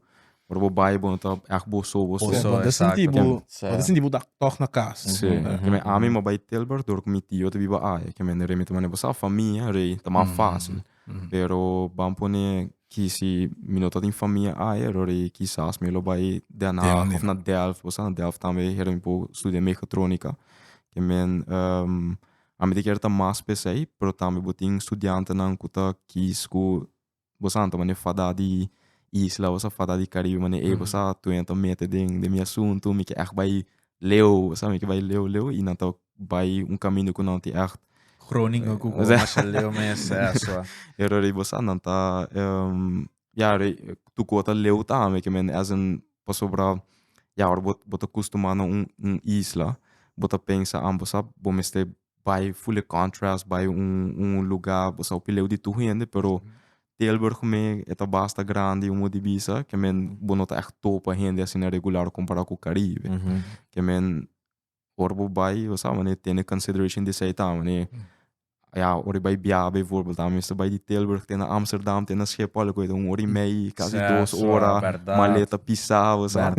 A: ora bo bai bo no ta ègt bo so, bo so. Bo ta sinti bo,
C: bo
B: ta sinti bo ta
C: tòg na kas. Sí. Ke men, ami
A: mi a bai Tilburg dor ku mi tio ta biba aya. Ke men, rei mi ta manda bo sa, famia, rei, ta mas fásil. Pero ban pone ki si mi no ta tin famia ahe ròri kisas mi lo bai Den Haag Den. of na Delft. Bo sa na Delft tambe heren mi por studia mehatronica. Ke men a miti ker ta mas pesei pero tambe bo tin studiantenan ku ta kis ku bo sa anto mane fada di isla bo sa fada di Caribe mane ey bo sa tueña ta mete den mi asuntu mi ke ègt bai Leu, sa mi ke bai leu leu i nan ta bai un kaminda ku nan tin ègt. Groninga ku bo
B: masha leu mes e asua. E ròt di bo sa
A: nan ta ya ri tur ku bo ta leu ta ami ke men èsen pasobra ya ora bo ta kustumá na un isla bo ta pensa amper sa bo mester bai fule contrast bai un un luga bo sao pileu di tur hende pero Tilburg me e ta basta grandi un mudi bisa ke men bo no ta echt topa hende asina regular kompara ku Karibe ke men ora bo bai bo sa manera tene consideration di esei ta manera ya ora e bai biaha beyvoorbeeld a mester bai di Tilburg te na Amsterdam te na Schiphol loke ta un ora i mei casi dos ora maleta pisa bo sa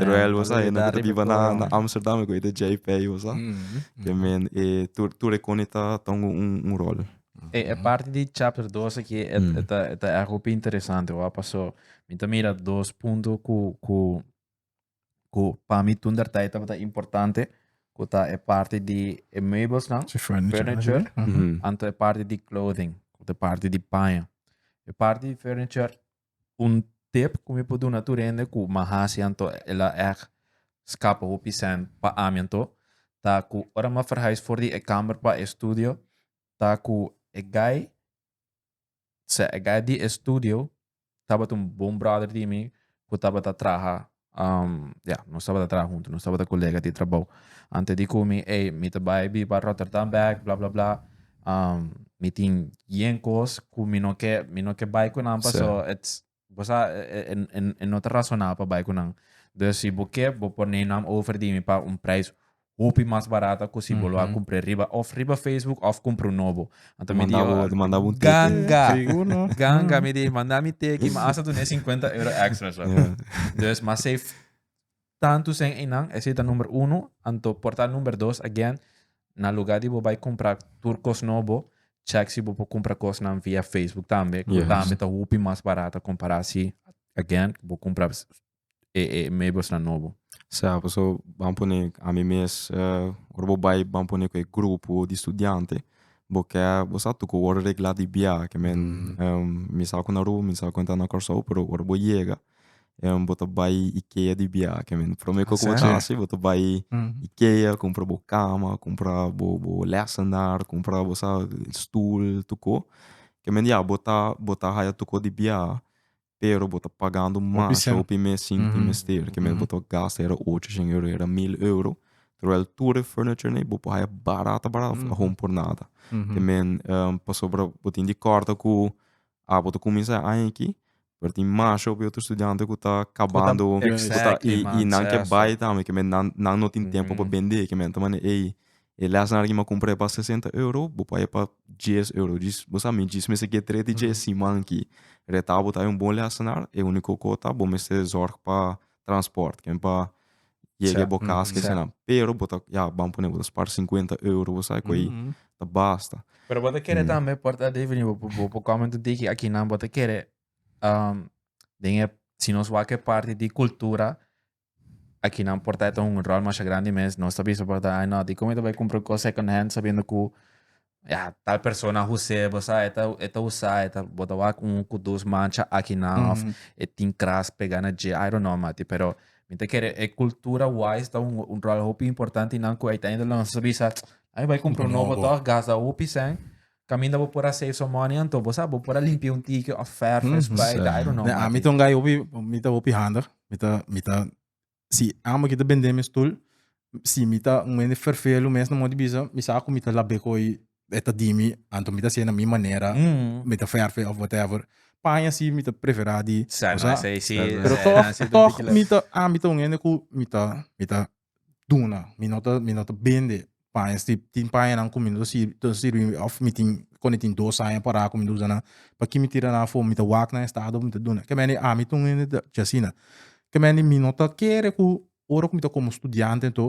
A: terwel bo sa
B: e nan ke ta biba
A: na Amsterdam loke ta JP bo sa. Te men e tur tur e kone ta ta un un un ròl. E e parti
B: di chapter dos aki e e ta e ta hopi interesante wak paso mi ta mira dos punto ku ku ku pa mi tun der tyd tabata importante ku ta e parti di e meubelsnan, Sí, furniture. furniture, Ujú. anto e parti di clothing, ku ta parti di paña. E parti di furniture Un tip ku mi por duna tur hende ku m'a hasi anto e la èg skapa hopi sèn pa ami anto, ta ku ora m'a ferhais for di e kamer pa e studio ta ku e guy, sea e guy di e studio tabata un bon bròder di mi ku tabata traha Um, ya, yeah, nos tabata traha huntu, nos tabata colega di trabou. Ante di cu mi, hey, mi te bai bi pa Rotterdam back, bla bla bla. Um, mi tin yen cos cu mi no ke, mi no ke bai cu nan, pa so, it's, bo sa, en, en, en no te razonabel pa bai cu nan. Dus si bo ke, bo por neem nan over di mi pa un prijs hopi mas barato a cosi bo lo a cumpre riba of riba Facebook of cumpre un nobo. Anto mi di,
A: ganga,
B: ganga, mi di, manda mi teki, ma asta tu ne 50 euro extra. So. Yeah. Dus, ma safe tanto sen einan, ese ta number uno, anto porta number dos, again, na lugar di bo bai compra tur cos nobo, check si bo po compra cos nan via Facebook tambe, yes. tambe ta hopi mas barato compara si, again, bo compra e e meeblesnan nobo. Sa paso
A: ban pone ami mes ora bo bai ban pone ku e grupo di studiante bo ke bo sa tuko wòrdu regla di biaha ke men mi sa ku Naru mi sa ku enta na Kòrsou pero ora bo yega bo ta bai Ikea di biaha ke men promé ku bo ta hasi bo ta bai Ikea kumpra bo kama kumpra bo bo lèsènar kumpra bo sa stul tuko ke men ya bo ta bo ta haya tuko di biaha pero bo ta pagando mas hopi mes sin tin mester. Ke mes bo ta gasta yera ocho shen euro, yera mil euro. Terwijl tur e furniture nei bo por haya barata barata for ahon por nada. Te men pasobra bo tin di kòrda ku a bo ta kuminsá e aña aki pero tin mas hopi otro studiante ku ta kabando i nan ke bai tambe ke men nan no tin tempu pa bend'é ke men ta manda ei E lèsnan aki mi a kumpra e pa sesenta euro, bo paga e pa dies euro. Djis, bo sa mi djis mester ke tre di dje siman aki. Retá bo ta un bon lèsnan, e úniko kos ta bo mester zòrg pa transpòrt, ken pa yega bo kas ke asina. Pero bo ta, ya, ban pone bo ta spar sinkuenta euro, bo sa ku ei ta basta. Pero bo ta kere tambe
B: por ta defini bo bo por kòmen tu diki akinan bo ta kere den e si nos wak e parti di kultura aki nan por ta un rol masha grandi mes nos ta bisa por ta ai no dikon mi ta bai kumpra un kos second hand sabiendo ku ya tal persona a huse bo sa e ta e ta usa e ta bo ta wak un ku dos mancha aki nan of e tin kras pega na dje i don't know mati pero mi ta kere e kultura wise ta un un rol hopi importante nan ku uiteindelijk nos ta bisa ai mi bai kumpra un nobo tok gasta hopi cen Kaminda bo por a save some money anto, bo sa, bo por a limpia un tiki of verf mm, spuit, I don't know. Ne, a mi ta un guy hopi,
C: mi ta hopi handig. Mi ta, mi ta, si amo ki ta bende mi stoel, si mi ta un mende verfel un mes na mor di bisa, mi sa ku mi ta labé ku ei, e ta di mi, anto mi ta hasié na mi manera, mi ta verf'e of whatever. Paña si mi ta preferá di, bo sa. Pero tog, tog mi ta, a mi ta un hende ku mi ta, mi ta. duna mi no ta mi no ta bende paña stip tin paña nan ku mi no ta sirbi ta sirbi òf mi tin kònde tin dos aña pará ku mi ta usa nan pakiko mi tira nan afo mi ta wak nan estado mi ta duna kèmen i ami tun hende ta chi asina kèmen i mi no ta kere ku ora ku mi ta komo studiante anto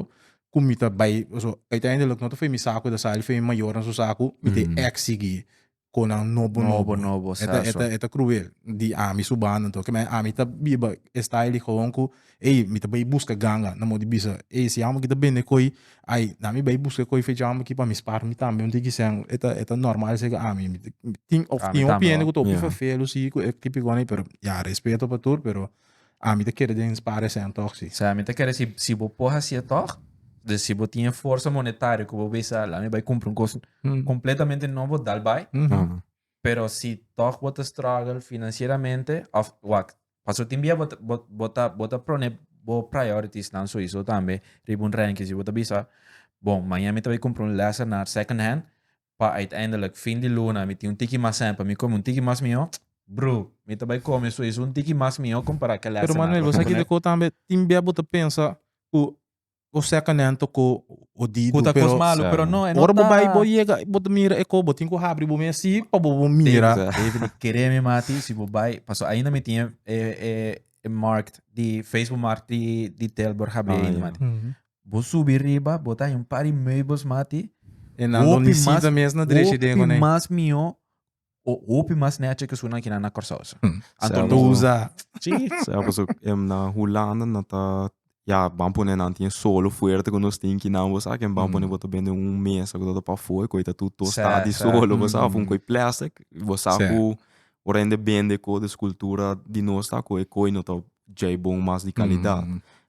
C: ku mi ta bai pasobra uitendelik no ta for mi sa ku mi ta sali for mi mayornan su sa ku mi te eksigi con nan nobo nobo, nobo e ta e ta e ta cruel di ami su banda anto kimen ami ta biba e style di hoon cu ey mi ta bay busca ganga na modi bisa ey si amo aki ta bende coy ay na mi bay busca coy fecha amo aki pa mi spar mi tambe un tiki shen e ta e ta normal seki ami tin of tin hopi hende cu ta hopi vervelu si cu e tipiconan pero ya respeto pa tur pero. Ami ta kere den spara esei antoh si. Sea, mi ta kere si si
B: bo por hasi e toh, dus si bo tin e forsa monetario ku bo bisa lami bai kumpra un kos kompletamente nobo, dal bai. Pero si toh bo ta struggle finansieramente òf wak, pasobra tin bia bo ta bo bo ta bo ta prone bo prioritiesnan suizo tambe riba un rènke. Si bo ta bisa, bon, maña mi ta bai kumpra un lèsenaar second hand, pa uiteindelijk fin di luna mi tin un tiki mas en pa mi come un tiki mas miho, bro, mi ta bay come su es un tiki mas miho compara cu el Pero Manuel, bo sa kico cu tambe
C: tin bia bo ta pensa cu bo seca nento cu bo di cu ta cos malo, pero no, e no
B: ta. Ora bo bay bo yega
C: bo ta mira e co bo tin cu habri bo mi asi pa bo bo mira. David, mi kere mi
B: mati si bo bay paso ainda mi tin e markt di Facebook markt di Tilburg habri ainda mati. Bo subi riba, bo ta haña un par di meubels mas ati. E nan lo ni
C: si también esnan drechi den kuné. Hopi mas mihó,
B: o hopi mas nèchi ke esunnan kinan na Kòrsou sa. Anto no usa.
C: Sí, sa pasobra
A: ku em na Hulanda nan ta, ya, ban pone nan tin e solo fuerte ku nos tin kinan bo sa, ken ban pone bo ta bende un mesa ku ta pafó, e koi ta tur tostá di solo, bo sa, òf un koi plèstik, bo sa ku Ora hende bende cu des cultura di nos ta cu e coy no ta djey bon mas di calidad.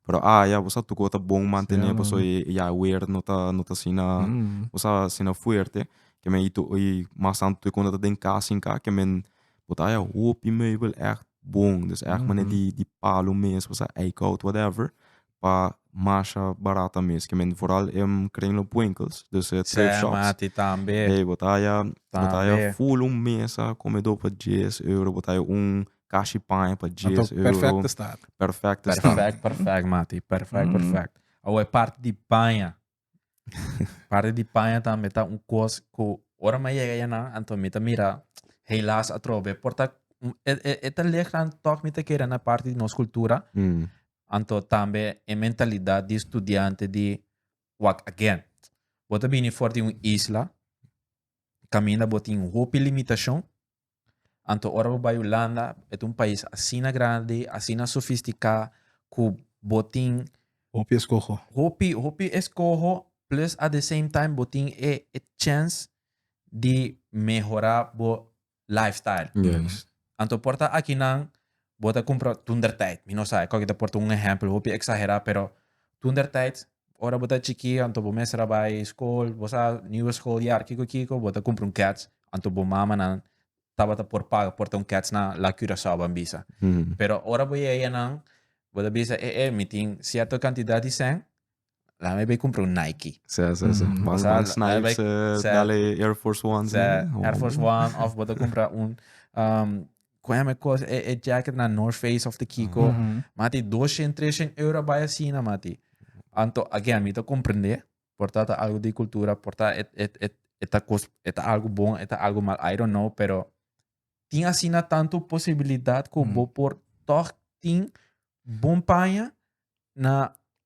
A: Pero aya bo sa tucu ta bon mantene pasobra e yaguer no ta no ta asina bo sa asina fuerte. Ke men y mas tanto tur cuando bo ta den cas sin cas ke men bo ta haya hopi meybel echt bon. Bo ta haya mane di palo mes, bo ta haya eickhout whatever. pa masha barata mes kement vooral em kring lo buenkels dus e thrift shops. Sè mati tambe. Ey
B: bo ta haya
A: bo ta haya full un mesa komedo pa dies euro bo ta haya un kashi paña pa dies euro. Anto perfect estat. Perfect estat. Perfect perfect
B: mati perfect perfect awo e parti di paña Parti di paña tambe ta un kos ku ora mi a yega ya nan, anto mi ta mira helaas atrobe por ta e, e, e ta lek nan tòg mi ta kere na parti di nos kultura, Mm. anto tambe e mentalidat di studiante di wak again. Bo ta bini for di un isla, kaminda bo tin hopi limitashon, Anto ora bo bai Hulanda, e ta un pais asina grandi, asina sofisticá, cu bo tin. Hopi escoho.
C: Hopi, hopi escoho,
B: plus at the same time bo tin e e chance di mehorá bo lifestyle. Yes. Anto por ta aki nan Bo ta cumpra, toen der tijd, mi no sa escoge ta por ta un ehempel hopi exagera, pero toen der tijd, ora bo ta chiki, anto bo mester a bay school, bo sa, nieuwe schooljaar, kico kico, bo ta cumpra un kets, anto bo mamanan tabata por paga por ta un kets na La Curaçao ban bisa. Pero ora bo yega ya nan, bo ta bisa, eh eh, mi tin cierto cantidad di cen, Laat mij bij comprar een Nike. Sa, sa, sa. Mm. Van, Sa- van
A: sa- Snipes, sa- eh, sa- dale Air Force One. Sa, eh. Air Force One
B: of bota compra un um, con hem cos e, e jacket na North Face of the Kiko. Mhm. Mati 200, 300 euro bij asina mati. Anto again mi te comprende porta ta algo di cultura, porta et et et et a cos et a algo bon, et a algo mal, I don't know, pero tin asina tanto posibilidad con Mm. bo por toch tin bon paña na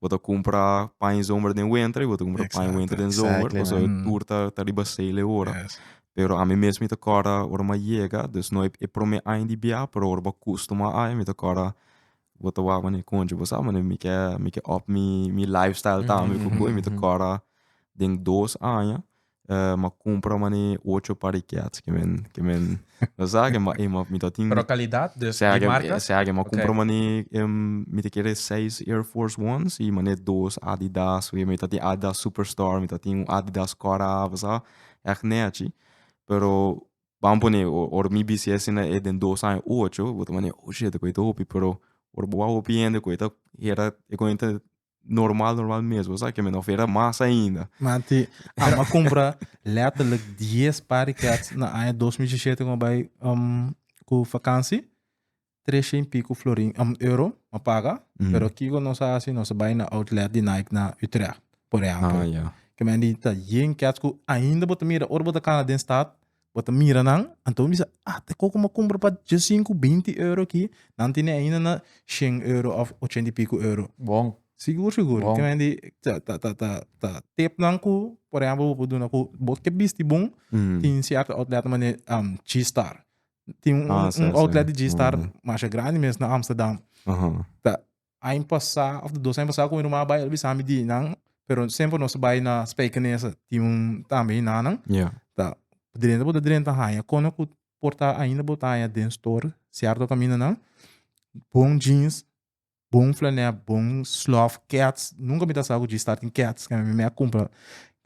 A: bo ta cumpra paña zomer den wenter y bo ta cumpra paña wenter den zomer pasobra e tur ta ta riba cel e ora pero ami
C: mes mi ta
A: corda ora mi a yega dus no e prome aña di bia pero ora bo a custuma ai mi ta corda bo ta wak mane concho bo sa mane mi ke mi ke up mi mi life style tambe cu cu mi ta corda den dos aña eh, ma compra mane ocho par de cats que men que men no sa que ma eh, ma mi tin Pero calidad de, sea de
B: que marca? sea que ma Ok. compra mane
A: em mi te quiere seis Air Force Ones y mane dos Adidas we mi ta tin Adidas Superstar mi ta tin un Adidas Cut Off sa echt nechi pero ban pone o- or mi bisti asina e den dos aña ocho bo ta mane oh shit e coe ta hopi pero or bo a hopi hende coe ta hera e coe ta normal normal mes bo sa kimen of era mas ainda. Manti
C: ama compra letterlijk 10 par di cats na aña 2017 con bij um, cu vakantie. Tresje en pico florin um, euro ma paga. Mm. Pero kiko nos a haci nos a bij na outlet di Nike na Utrecht, por ejemplo. Ah, ja. Kimen di
A: ta yen
C: cats cu ainda bo ta mira ora bo ta cana den stad bo ta mira nan, anto bo bisa, ah, te koko m'a kumpra pa diasinku, binti euro aki, nan tene ainda na shen euro òf ochenta i piko euro. Bon. Sigur,
B: sigur. Bon. Kende
C: di,
B: ta, ta,
C: ta, ta, ta tipnan ku, por ehempel, bo por duna ku bo ke bisti bon, tin sierto outlet ta mane G-Star. Tin un, un outlet di G-Star masha grandi mes na Amsterdam. Ta Aña pasá òf di dos aña pasá ku mi ruman a bai el a bisa mi di nan pero semper nos a bai na Spijkenize tin un tambe yi nanan Ya. ta drenta bo ta drenta haña kono ku por ta ainda bo ta haña den store cierto caminanan bon jeans bon flanel bon slof kets nunca mi ta sa ku G-Star tin kets mi mi a cumpra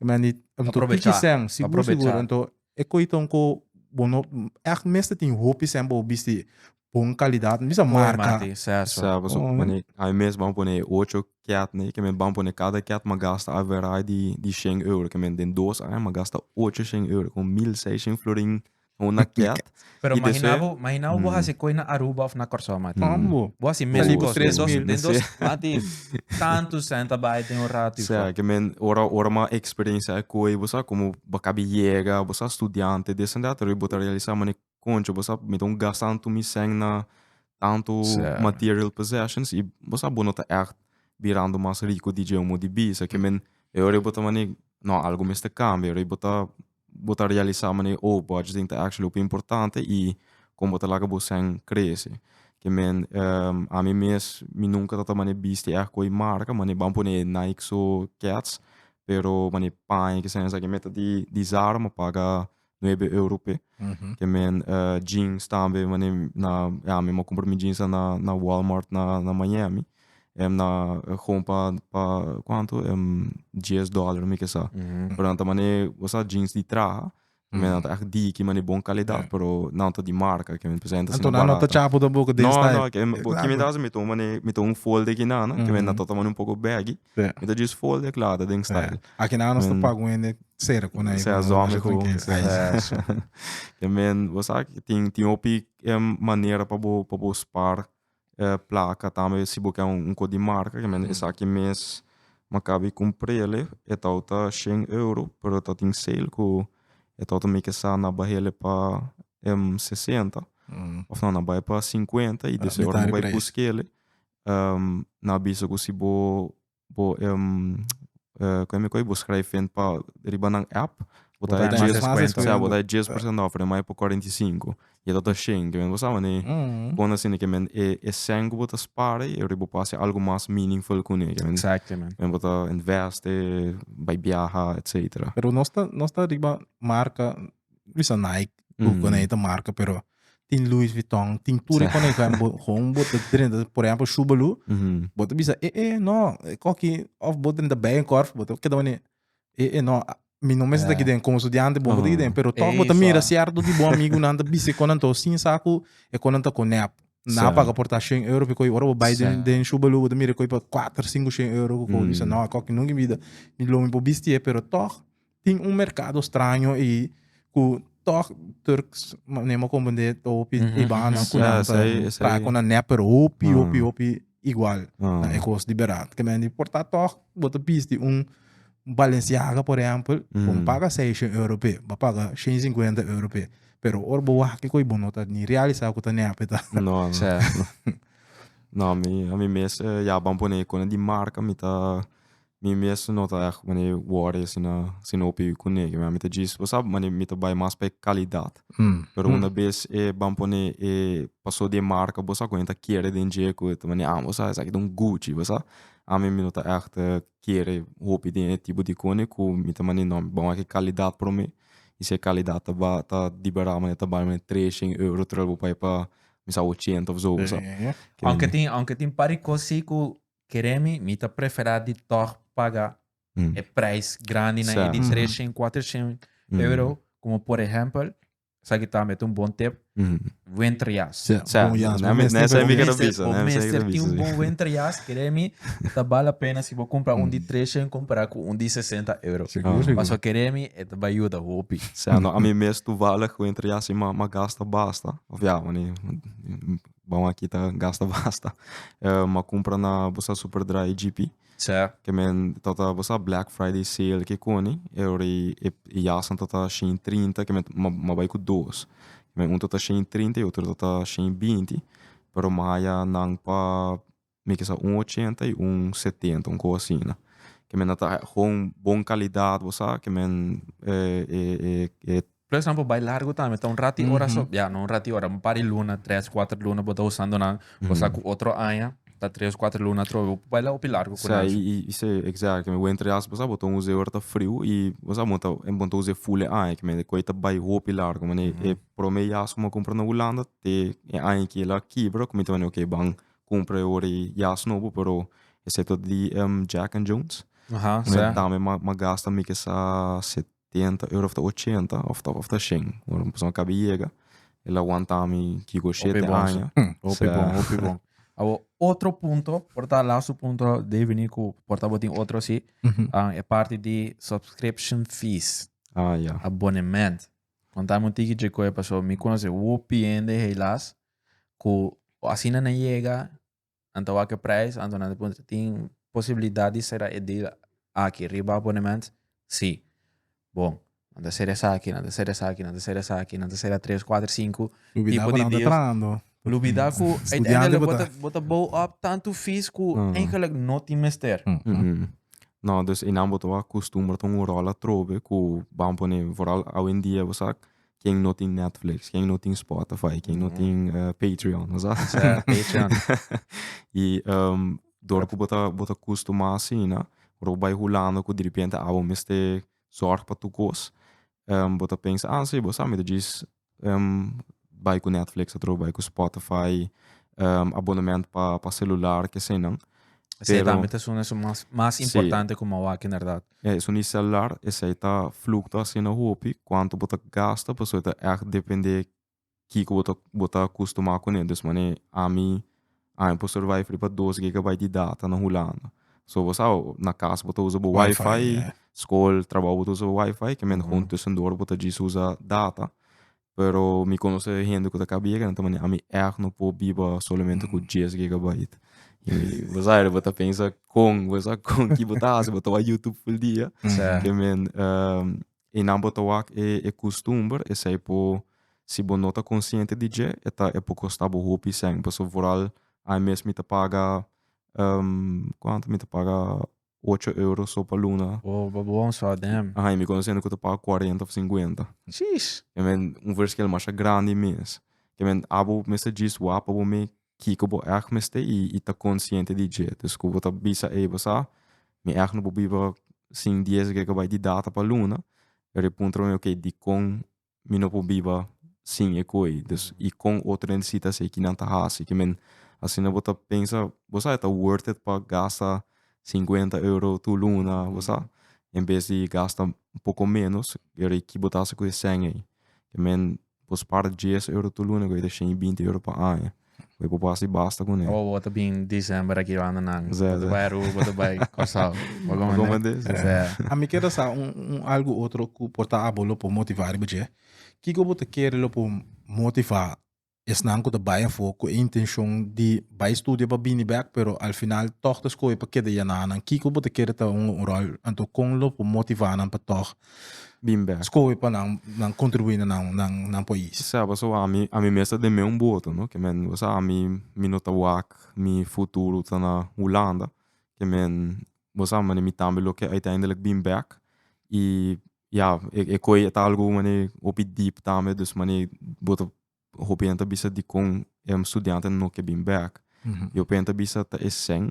C: mi a ni Aprovecha.
B: Aprovecha. Enton
C: E koiton ku bo no ègt mester tin hopi esempel bo bisti bon kalidat, mi bisa marka. Sa pasobra bo
A: pone, ai mes ban pone e ocho kèt nei, ke men ban pone kada kèt m'a gasta averai di di shen euro, ke men den dos aña m'a gasta ocho shen euro, kon mil seishen florin na una kèt. Pero mahina bo,
B: mahina bo bo hasi koe na Aruba of na Kòrsou, mati. Tambo. Bo hasi mezi kos. Den dos, den
C: dos,
B: mati, tantu sènt a bai den un ratu i fò. Ke men, ora,
A: ora bo a eksperensia e koe, bo sa komo bo kabi yega, bo sa studiante, dis en dat, pero bo ta realisá manera koncho bo sa mete un gasta anto mi sèn na tantu material possessions i bo sa bo no ta ègt birando mas riko di dje o mo di bi. Esaki men, e ora ei bo ta manera, no, algu mester kambia, e ora ei bo ta bo ta realisa mane e old budgeting ta actually hopi importante y con bo ta laga bo cen crece. Ke men ami mes mi nunca ta tama ne bisti ect cu e marca mane ban pone Nike so kets pero mane paña kisa en esaki me ta di dizar ma paga nuebe euro pe. Ke men jeans tambe mane na ami a compra mi jeans na Walmart na Miami. Em na gong pa pa kuantu em dies dollar mi kesa pero nan ta mane gosa jeans di traha me nan ta echt diki mane bon kalidad pero nan ta di marka ke men presenta asina barata. Anto nan no ta chapu tampoco
C: den style. No no ke mi ke mi ta
A: hasi mi ta un mane mi ta un folde aki nan ke men nan ta mane un poco baggy mi ta just folde klada den style. Aki nan nos ta pagu
C: hende serka un ai Sea zomi ku
A: ke men bo sa tin tin hopi manera pa bo pa bo spar. E plaka tambe si bo ke un ko di marka ke men esaki mes mi a kaba di kumprele e tabata shen euro pero ta tin sale ku e tabata mi ke sa na bahele pa sesenta of no na bai pa sinkuenta i deseo ora mi bai buskele na bisa ku si bo bo kua mi koe bo skrij in pa riba nan app bo ta haya dies kuenta ya bo ta haya dies por ciento off remai por cuarenta y cinco y ta tur shinki bo sa wani pone asina ke men e e cen ku bo ta spara i ora bo por hasi algo mas meaningful kune ke men bo ta
B: investe
A: bai biaha etcetera pero nos ta nos ta
C: riba marka bisa Nike, mm. con esta marca, pero tin Louis Vuitton, tin tur con esta, gewoon bota drenta, por ejemplo, Shubalu, mm -hmm. bota bisa, eh, eh, no, coqui, of bota drenta bij een korf, bota queda wanneer, eh, eh, no, mi no mensen yeah. den como estudiante, bom uh -huh. pero toch bota mira cierto di bom amigo nan te bisa con anto sin saco, e con anto con nep. Na so. paga porta 100 euro, porque ora bo bij den, den Shubalu, bota mira coi pa 4, 5, 100 euro, mm. bisa, no, coqui nunca vida, mi lo mi po bistie, pero toch, Tin un mercado straño ei cu toch Turks manera mo comprende hopi Mhm, Ibana mhm. cu Ja, nan esai- esai- trae con nan nep pero hopi Ah. hopi hopi igual Ah. na e cos di berat que men di por ta toch bo ta bisti un Balenciaga por ejemplo bo Mm. paga seishen euro p'e bo paga shen y cincuenta euro p'e pero ora bo wak cu ei bo no ta ni realisa cu ta nep e ta No, no.
A: Sea. No, a mi, a mi mes eh, ya ban pone icono di marca, mi ta Mi mes no ta echt mane worry asina si no piwi ku nega mi. Mi ta djis bo sa mane mi ta bai mas pa e kalidad. Pero unda bes e ban pone e paso di e marka bo sa ku nan ta kere den dje ku ta mane bo sa esaki ta un Gucci bo sa. Ami mi no ta echt kere hopi den e tipo di kone ku mi ta mane no mi ban wak e kalidad prome i si e kalidad ta ba ta di bera mane ta bali mane tres shen euro terwijl bo bai pa bisa ochenta of zo bo sa. Aunke tin aunke
B: tin par di kos si ku Keremi, mi ta preferá di tòg paga e prijs grandi nan, e di treshent, kuatershent euro, komo por ehèmpel, esaki tambe ta un bon tip, wenterjas. Bon
A: jas. Bo mester tin un
B: bon wenterjas, keremi, ta bal la pena si bo kumpra un di treshent kompará ku un di sesenta euro. Pasobra keremi e ta bai yuda hopi. Ami mes
A: toevallig wenterjas i m'a gasta basta. Òf ya, bon aki ta gasta basta. Eh, ma compra na bosa Superdry GP. Sa. Que men
B: tota
A: bosa Black Friday sale que coni, e ori e jasan tota shin trinta que men ma, ma bai cu dos. Men un tota shin trinta y otro tota shin binti, pero maya nan pa mi kisa un ochenta i un setenta un kos asina ke men a traha gon bon kalidat bo sa ke men
B: e Por ehempel bai largu tambe ta un rati ora so ya no un rati ora un par di luna tres kuater luna bo ta usando nan kosa ku otro aña ta tres kuater luna atrobe bo por bai la hopi largu ku nan.
A: exacto mi wenter yas bo sa bo ta un us'e ora ta friu i bo sa bo ta bo ta us'e full e aña ke men e koi ta bai hopi largu manera e prome yas ku mi a kumpra na hulanda te e aña kila a kibra ku mi ta wende oke ban cumpra e ora y jas nobo pero excepto di Jack and Jones Aha, un sa. dame
B: ma ma gasta
A: mi kesa setenta euro of ta ochenta of ta of ta shen ora un persona cabe yega el a wanta mi kico Hopi shete bon, aña sa. Hopi Sa- bon, hopi
B: bon. Awo, otro punto, por ta laatste punto, Dave vini ku por ta bo tin otro si, Mhm. ah, e parti di subscription fees, ah ya
A: abonement.
B: Kontami un tiki dje koe, paso mi konosi hopi hende heilas ku asina nan yega nan ta wak e prijs anto nan ta puntra tin posibilidad di sera e deal aki riba abonement si bon nan ta sera esaki nan ta sera esaki nan ta sera esaki nan ta sera tres kuater sinku tipo di deal lubida ku uiteindelijk bo ta bo ta bou op tantu fees ku eigenlijk no tin mester no
A: dus e nan bo ta wak kustumber ta un rol atrobe ku ban pone foral awendia bo sa ken no tin Netflix, ken no tin Spotify, ken no tin uh, Patreon, no sa? Sa, Patreon.
B: y
A: um, door ku bota bota kusto mas sina, ro bai hulando ku de repente abo meste zorg pa tu kos. Um, bota pensa, ah, sí, bo sami, dus um, bai ku Netflix, atro bai ku Spotify, um, abonnement pa, pa celular, ke senan. Pero, Zeta mete
B: zones más, más importante sí. como aquí, inderdaad. Ya esun di celular
A: esei ta flucta asina hopi cuanto bo ta gasta pasobra ta echt depende kico bo ta bo ta acustuma cu ne dus manera ami ami por survive riba dos gigabyte di data na Hulanda so bo sabe na cas bo ta usa bo wifi school trabaho bo ta usa bo wifi kiamente con tussen dor bo ta djis usa data pero mi conoce hende cu ta caba yega nan ta manda ami echt no por biba solamente cu djes gigabyte bo sa bo ta pensa con bo sa con ki bo ta haci bo ta wak youtube full dia ke men y nan bo ta wak e costumber esey por si bo no ta conciente di dje e ta e por costa bo hopi seng pasobra vooral ay mes mi ta paga cuanto mi ta paga ocho euro so pa luna. Oh, bo bon so adem.
B: Aha, y mi conoce hende cu ta paga
A: cuarenta of cincuenta. Sheesh! Ke men,
B: un verschil
A: masha grandi mes. Ke men, abo mester djis wak pa bo mi kiko bo èg mester y, y ta consciente di dje. Dus cu bo ta bisa ey, bo sa, mi èg no por biba sin dies gege bai di data pa luna. Pero e puntra mi, ok, dicon mi no por biba sin e koe dus y con otro necesita hacer ki nan ta haci ki men asina bo ta pensa bo sa ta worth it pa gasta cincuenta euro tur luna bo sa en bes di gasta un poco menos pero y ki bo ta haci cu e cen ey men bo spar dies euro tur luna cu ey ta shen y binti euro pa aña. Bo por hasi basta cu ne. Bo bo ta bin December
B: aki banda nan. Bo ta bay Aruba, bo ta
A: bay
B: Curaçao. Bo goma ne. Goma des.
A: A mi keda
B: sa un
C: un algo otro cu por ta abo lo por motiva riba dje. Kico bo ta kere lo por motiva esnan cu ta bay afo cu e intencion di bay studia pa bini bek pero al final tog ta scoge pa keda ya na nan? Kico bo ta kere ta hunga un rol? Anto con lo por motiva nan pa tog bin bek. Scoge
A: pa nan
C: nan contribui na nan nan nan pais. Sea pasobra ami
A: ami mes ta den me un boto no ke men bo sa ami mi no ta wak mi futuro ta na Hulanda ke men bo sa mane mi tambe lo ke uiteindelik bin bek y ya e koe ta algu mane hopi deep tambe dus mane bo ta hopi hende ta bisa dikon e studiante no ke bin bek. Mm-hmm. Yo hopi hende bisa ta e sen,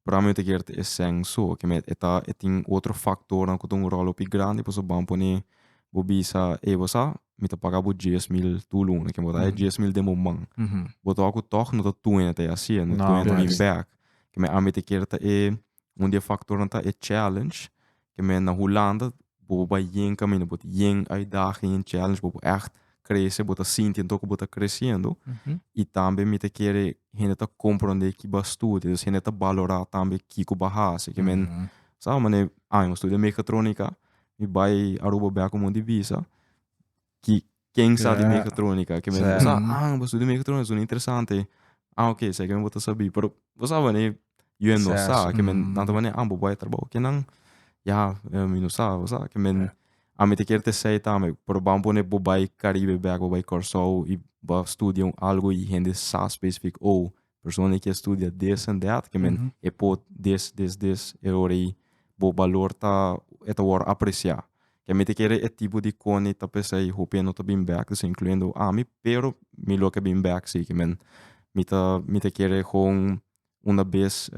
A: pero ame yo te kier ta e sen so, ke me e ta e tin otro faktornan ku ta un ròl hopi grandi, paso ban pone bo bisa, e bo sa, mi ta paga bo dies mil tur luna, ke bo ta e mm-hmm. dies mil den bo man. Mm-hmm. Bo ta ku tòg no ta tuene ta e hasié, no tuene ta bin bek. Ke me ame te kier ta e Un di e faktornan ta e challenge, ke men na Hulanda bobo bai yen kaminda, bo ta yen uitdaging, yen challenge, bobo ègt krese, bo ta sinti anto ku bo ta kresiendo. I tambe mi ta kere hende ta komprondé ki bo a studia, dus hende ta balorá tambe kiko bo a hasi. Ke men sa mane año studia mekatronika, mi bai Aruba bèk un mon di bisa. ki ken sa di megatronica, ki mester sa, ah, bo studia megatronica, suna interesante, ah, ok, esaki mi bo ta sabi, pero bo sa wani, yu e no sa, ki men, nan ta wani, ah, bo bai trabou ki nan, ya, mi no sa, bo sa, ki men, ami ta kier t'esei tambe, pero bam pone bo bai Caribe bek, bo bai Corsou, i bo studia un algo, i hende sa specific, oh, persona ke studia this and that ke men e po this this this e ora ei bo balor ta e ta wòrdu apresia ke mi ta kere e tipo di kone ta pesei hopi e no ta bin bek disa incluyendo ami pero mi lo ke bin bek si ke men mi ta mi ta kere kon una bes.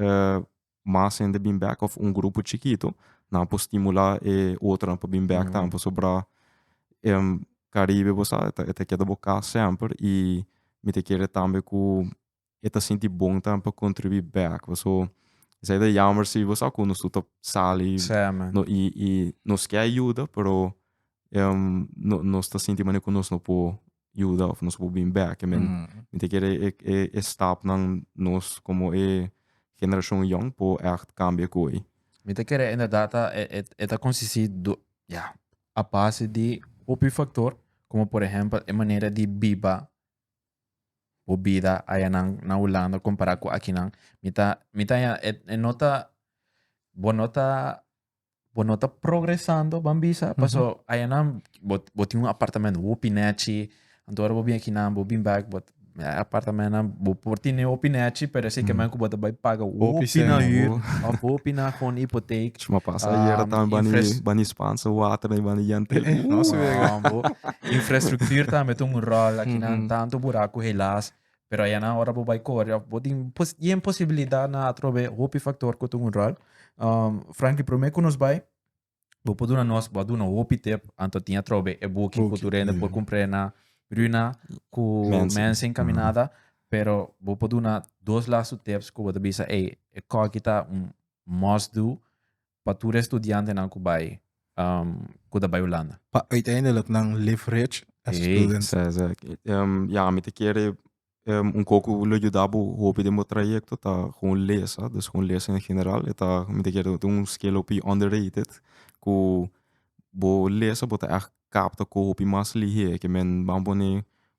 A: mas hende bin bek of un grupo chikito, nan por stimula e otronan pa bin bek tambe, pasobra en Caribe bo sa, e ta keda bo cas semper y mi ta kere tambe cu e ta sinti bon tambe pa contribui bek. Paso esei ta jammer si bo sa cu nos tur ta sali y nos ke a yuda pero nos ta sinti manera cu nos no por yuda of nos por bin bek. Men, mm. mi te quiere e, eh, e, eh, e eh, stap nan nos como e generación young po echt cambia koi. Mi te quiere
B: inderdaad et, et a consistir do, ja, a base di hopi factor, como por ejemplo e manera di biba o bida allá nan na Holanda comparado con aquí nan. Mi ta, mi ta, et, et nota, bo nota bo no ta progresando, ban bisa, paso ayanan bo, bo tin un apartamento hopi nechi, anto ora bo bin akinan, bo bin bak, but eh, apartamentonan bo por tine hopi nechi, pero ese kemen ku bo ta bai paga hopi sing, na huur, bo. of hopi na kon hipoteek. Chuma pasa ayer Um,
A: tambe bani infras- bani spanse water na bani yente. No,
C: bo.
B: Infrastructuur tambe ta un rol akinan, tanto buraku helaas, Pero ayanan ora bo bai kore of bo tin yen posibilidad na atrobe hopi factor cu tun rol. Um, Frankie, prome cu nos bai, bo por duna nos, bo a duna hopi tip, anto tin atrobe e book cu tu rende por compre na Bruna cu Mensing caminada, pero bo por duna dos lastu tips cu bo ta bisa, ey, e cocky ta un must do, pa tur e studiantenan ku bai ku ta bai Hulanda. Pa uiteindelik
C: nan live reach e student. Sa sa ya mi
A: ta kere un ko ku lo yuda bo hopi den bo trayekto ta kon lesa, dus kon lesa en general e ta mi ta kere un skill hopi underrated ku bo lesa bo ta ègt kap ta ko hopi mas lihé ke men ban pone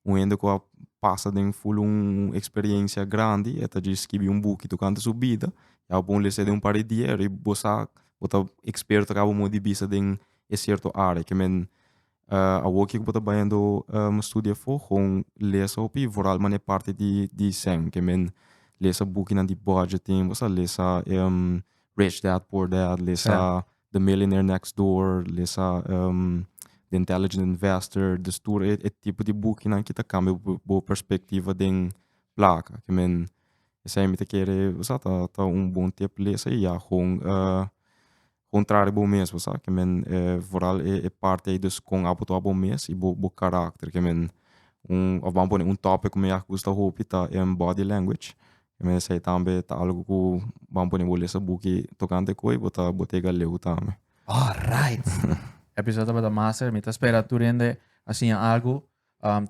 A: un hende ku a pasa den ful un eksperensia grandi e ta djis skibi un buki tokante su bida i abo por unu lesé den un par di dia i bo sa bo ta eksperto kabu modo di bisa den e sierto área ke men awoki ku bo ta bayando studia afó kon lesa hopi vooral manera parti di di sèn ke men lesa bukinan di budgeting bo sa lesa rich dad poor dad lesa The Millionaire Next Door, lesa The Intelligent Investor, dus tur e e tipo di bukinan ki ta kambia bo bo perspektiva den plaka, ke men esei mi ta kere sa ta ta un bon tep lesa i ya kon kon traha di bo mes sa ke men foral e e parti ei dus kon abo tua bo mes i bo bo karakter ke men un of ban pone un topic ku mi a gusta hopi ta Body Language E mesa ei tambe ta algu ku ban pone bo lesa buki tokante ku ei bo ta Botega Leu tambe. Alright!
B: Episod tabata master. Mi ta spera tur hende a siña algu.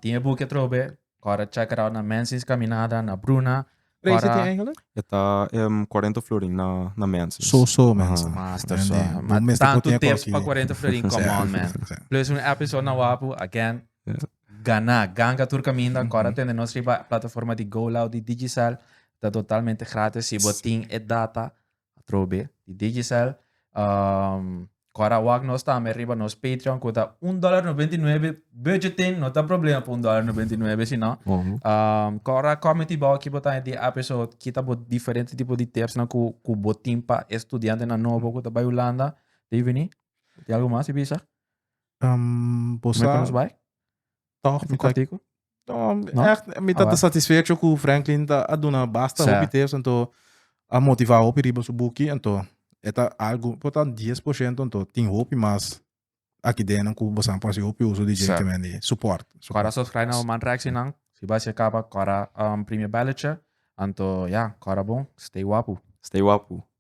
B: Tin e buki atrobe. Kòrda check it out na Menzies Kaminada, na Bruna. Preis a tin Angela?
C: E ta
A: cuarenta florin na Menzies. So so mensen.
C: Master so. Bo mester por
B: tin e kos
C: aki.
B: Tantu
C: tips
B: pa
C: cuarenta florin,
B: come
C: on
B: man. Plus un episod na Wapu, again. gana ganga tur kaminda ancora mm -hmm. tende nos riba plataforma di GoLoud di Digicel ta totalmente gratis si bo tin e data atrobe di Digicel um, Cora wak nos tambe riba nos Patreon kuta un dólar 99 budgeting no ta problema pa un dólar 99 sino mm -hmm. um, Cora committee bau ki botan di episode kita bo diferente tipo di tips na ku ku botin pa estudiante na nobo kuta bai Holanda Divini Tem algo mais, Ibiza? Bo sa. Nos bai? Tòg mi ta. No, echt,
C: mi ta satisfecho ku Franklin ta a duna basta hopi tips, ento a motiva hopi riba su buki, ento e ta algu, po ta 10%, ento tin hopi mas aki den ku bosan por hasi hopi uso di dje ke men di support.
B: Kora
C: subscribe na bo
B: man Rexy nan, si bo hasi e kaba kora primi e belletje, anto ya, kora bon, stay wapu. Stay wapu.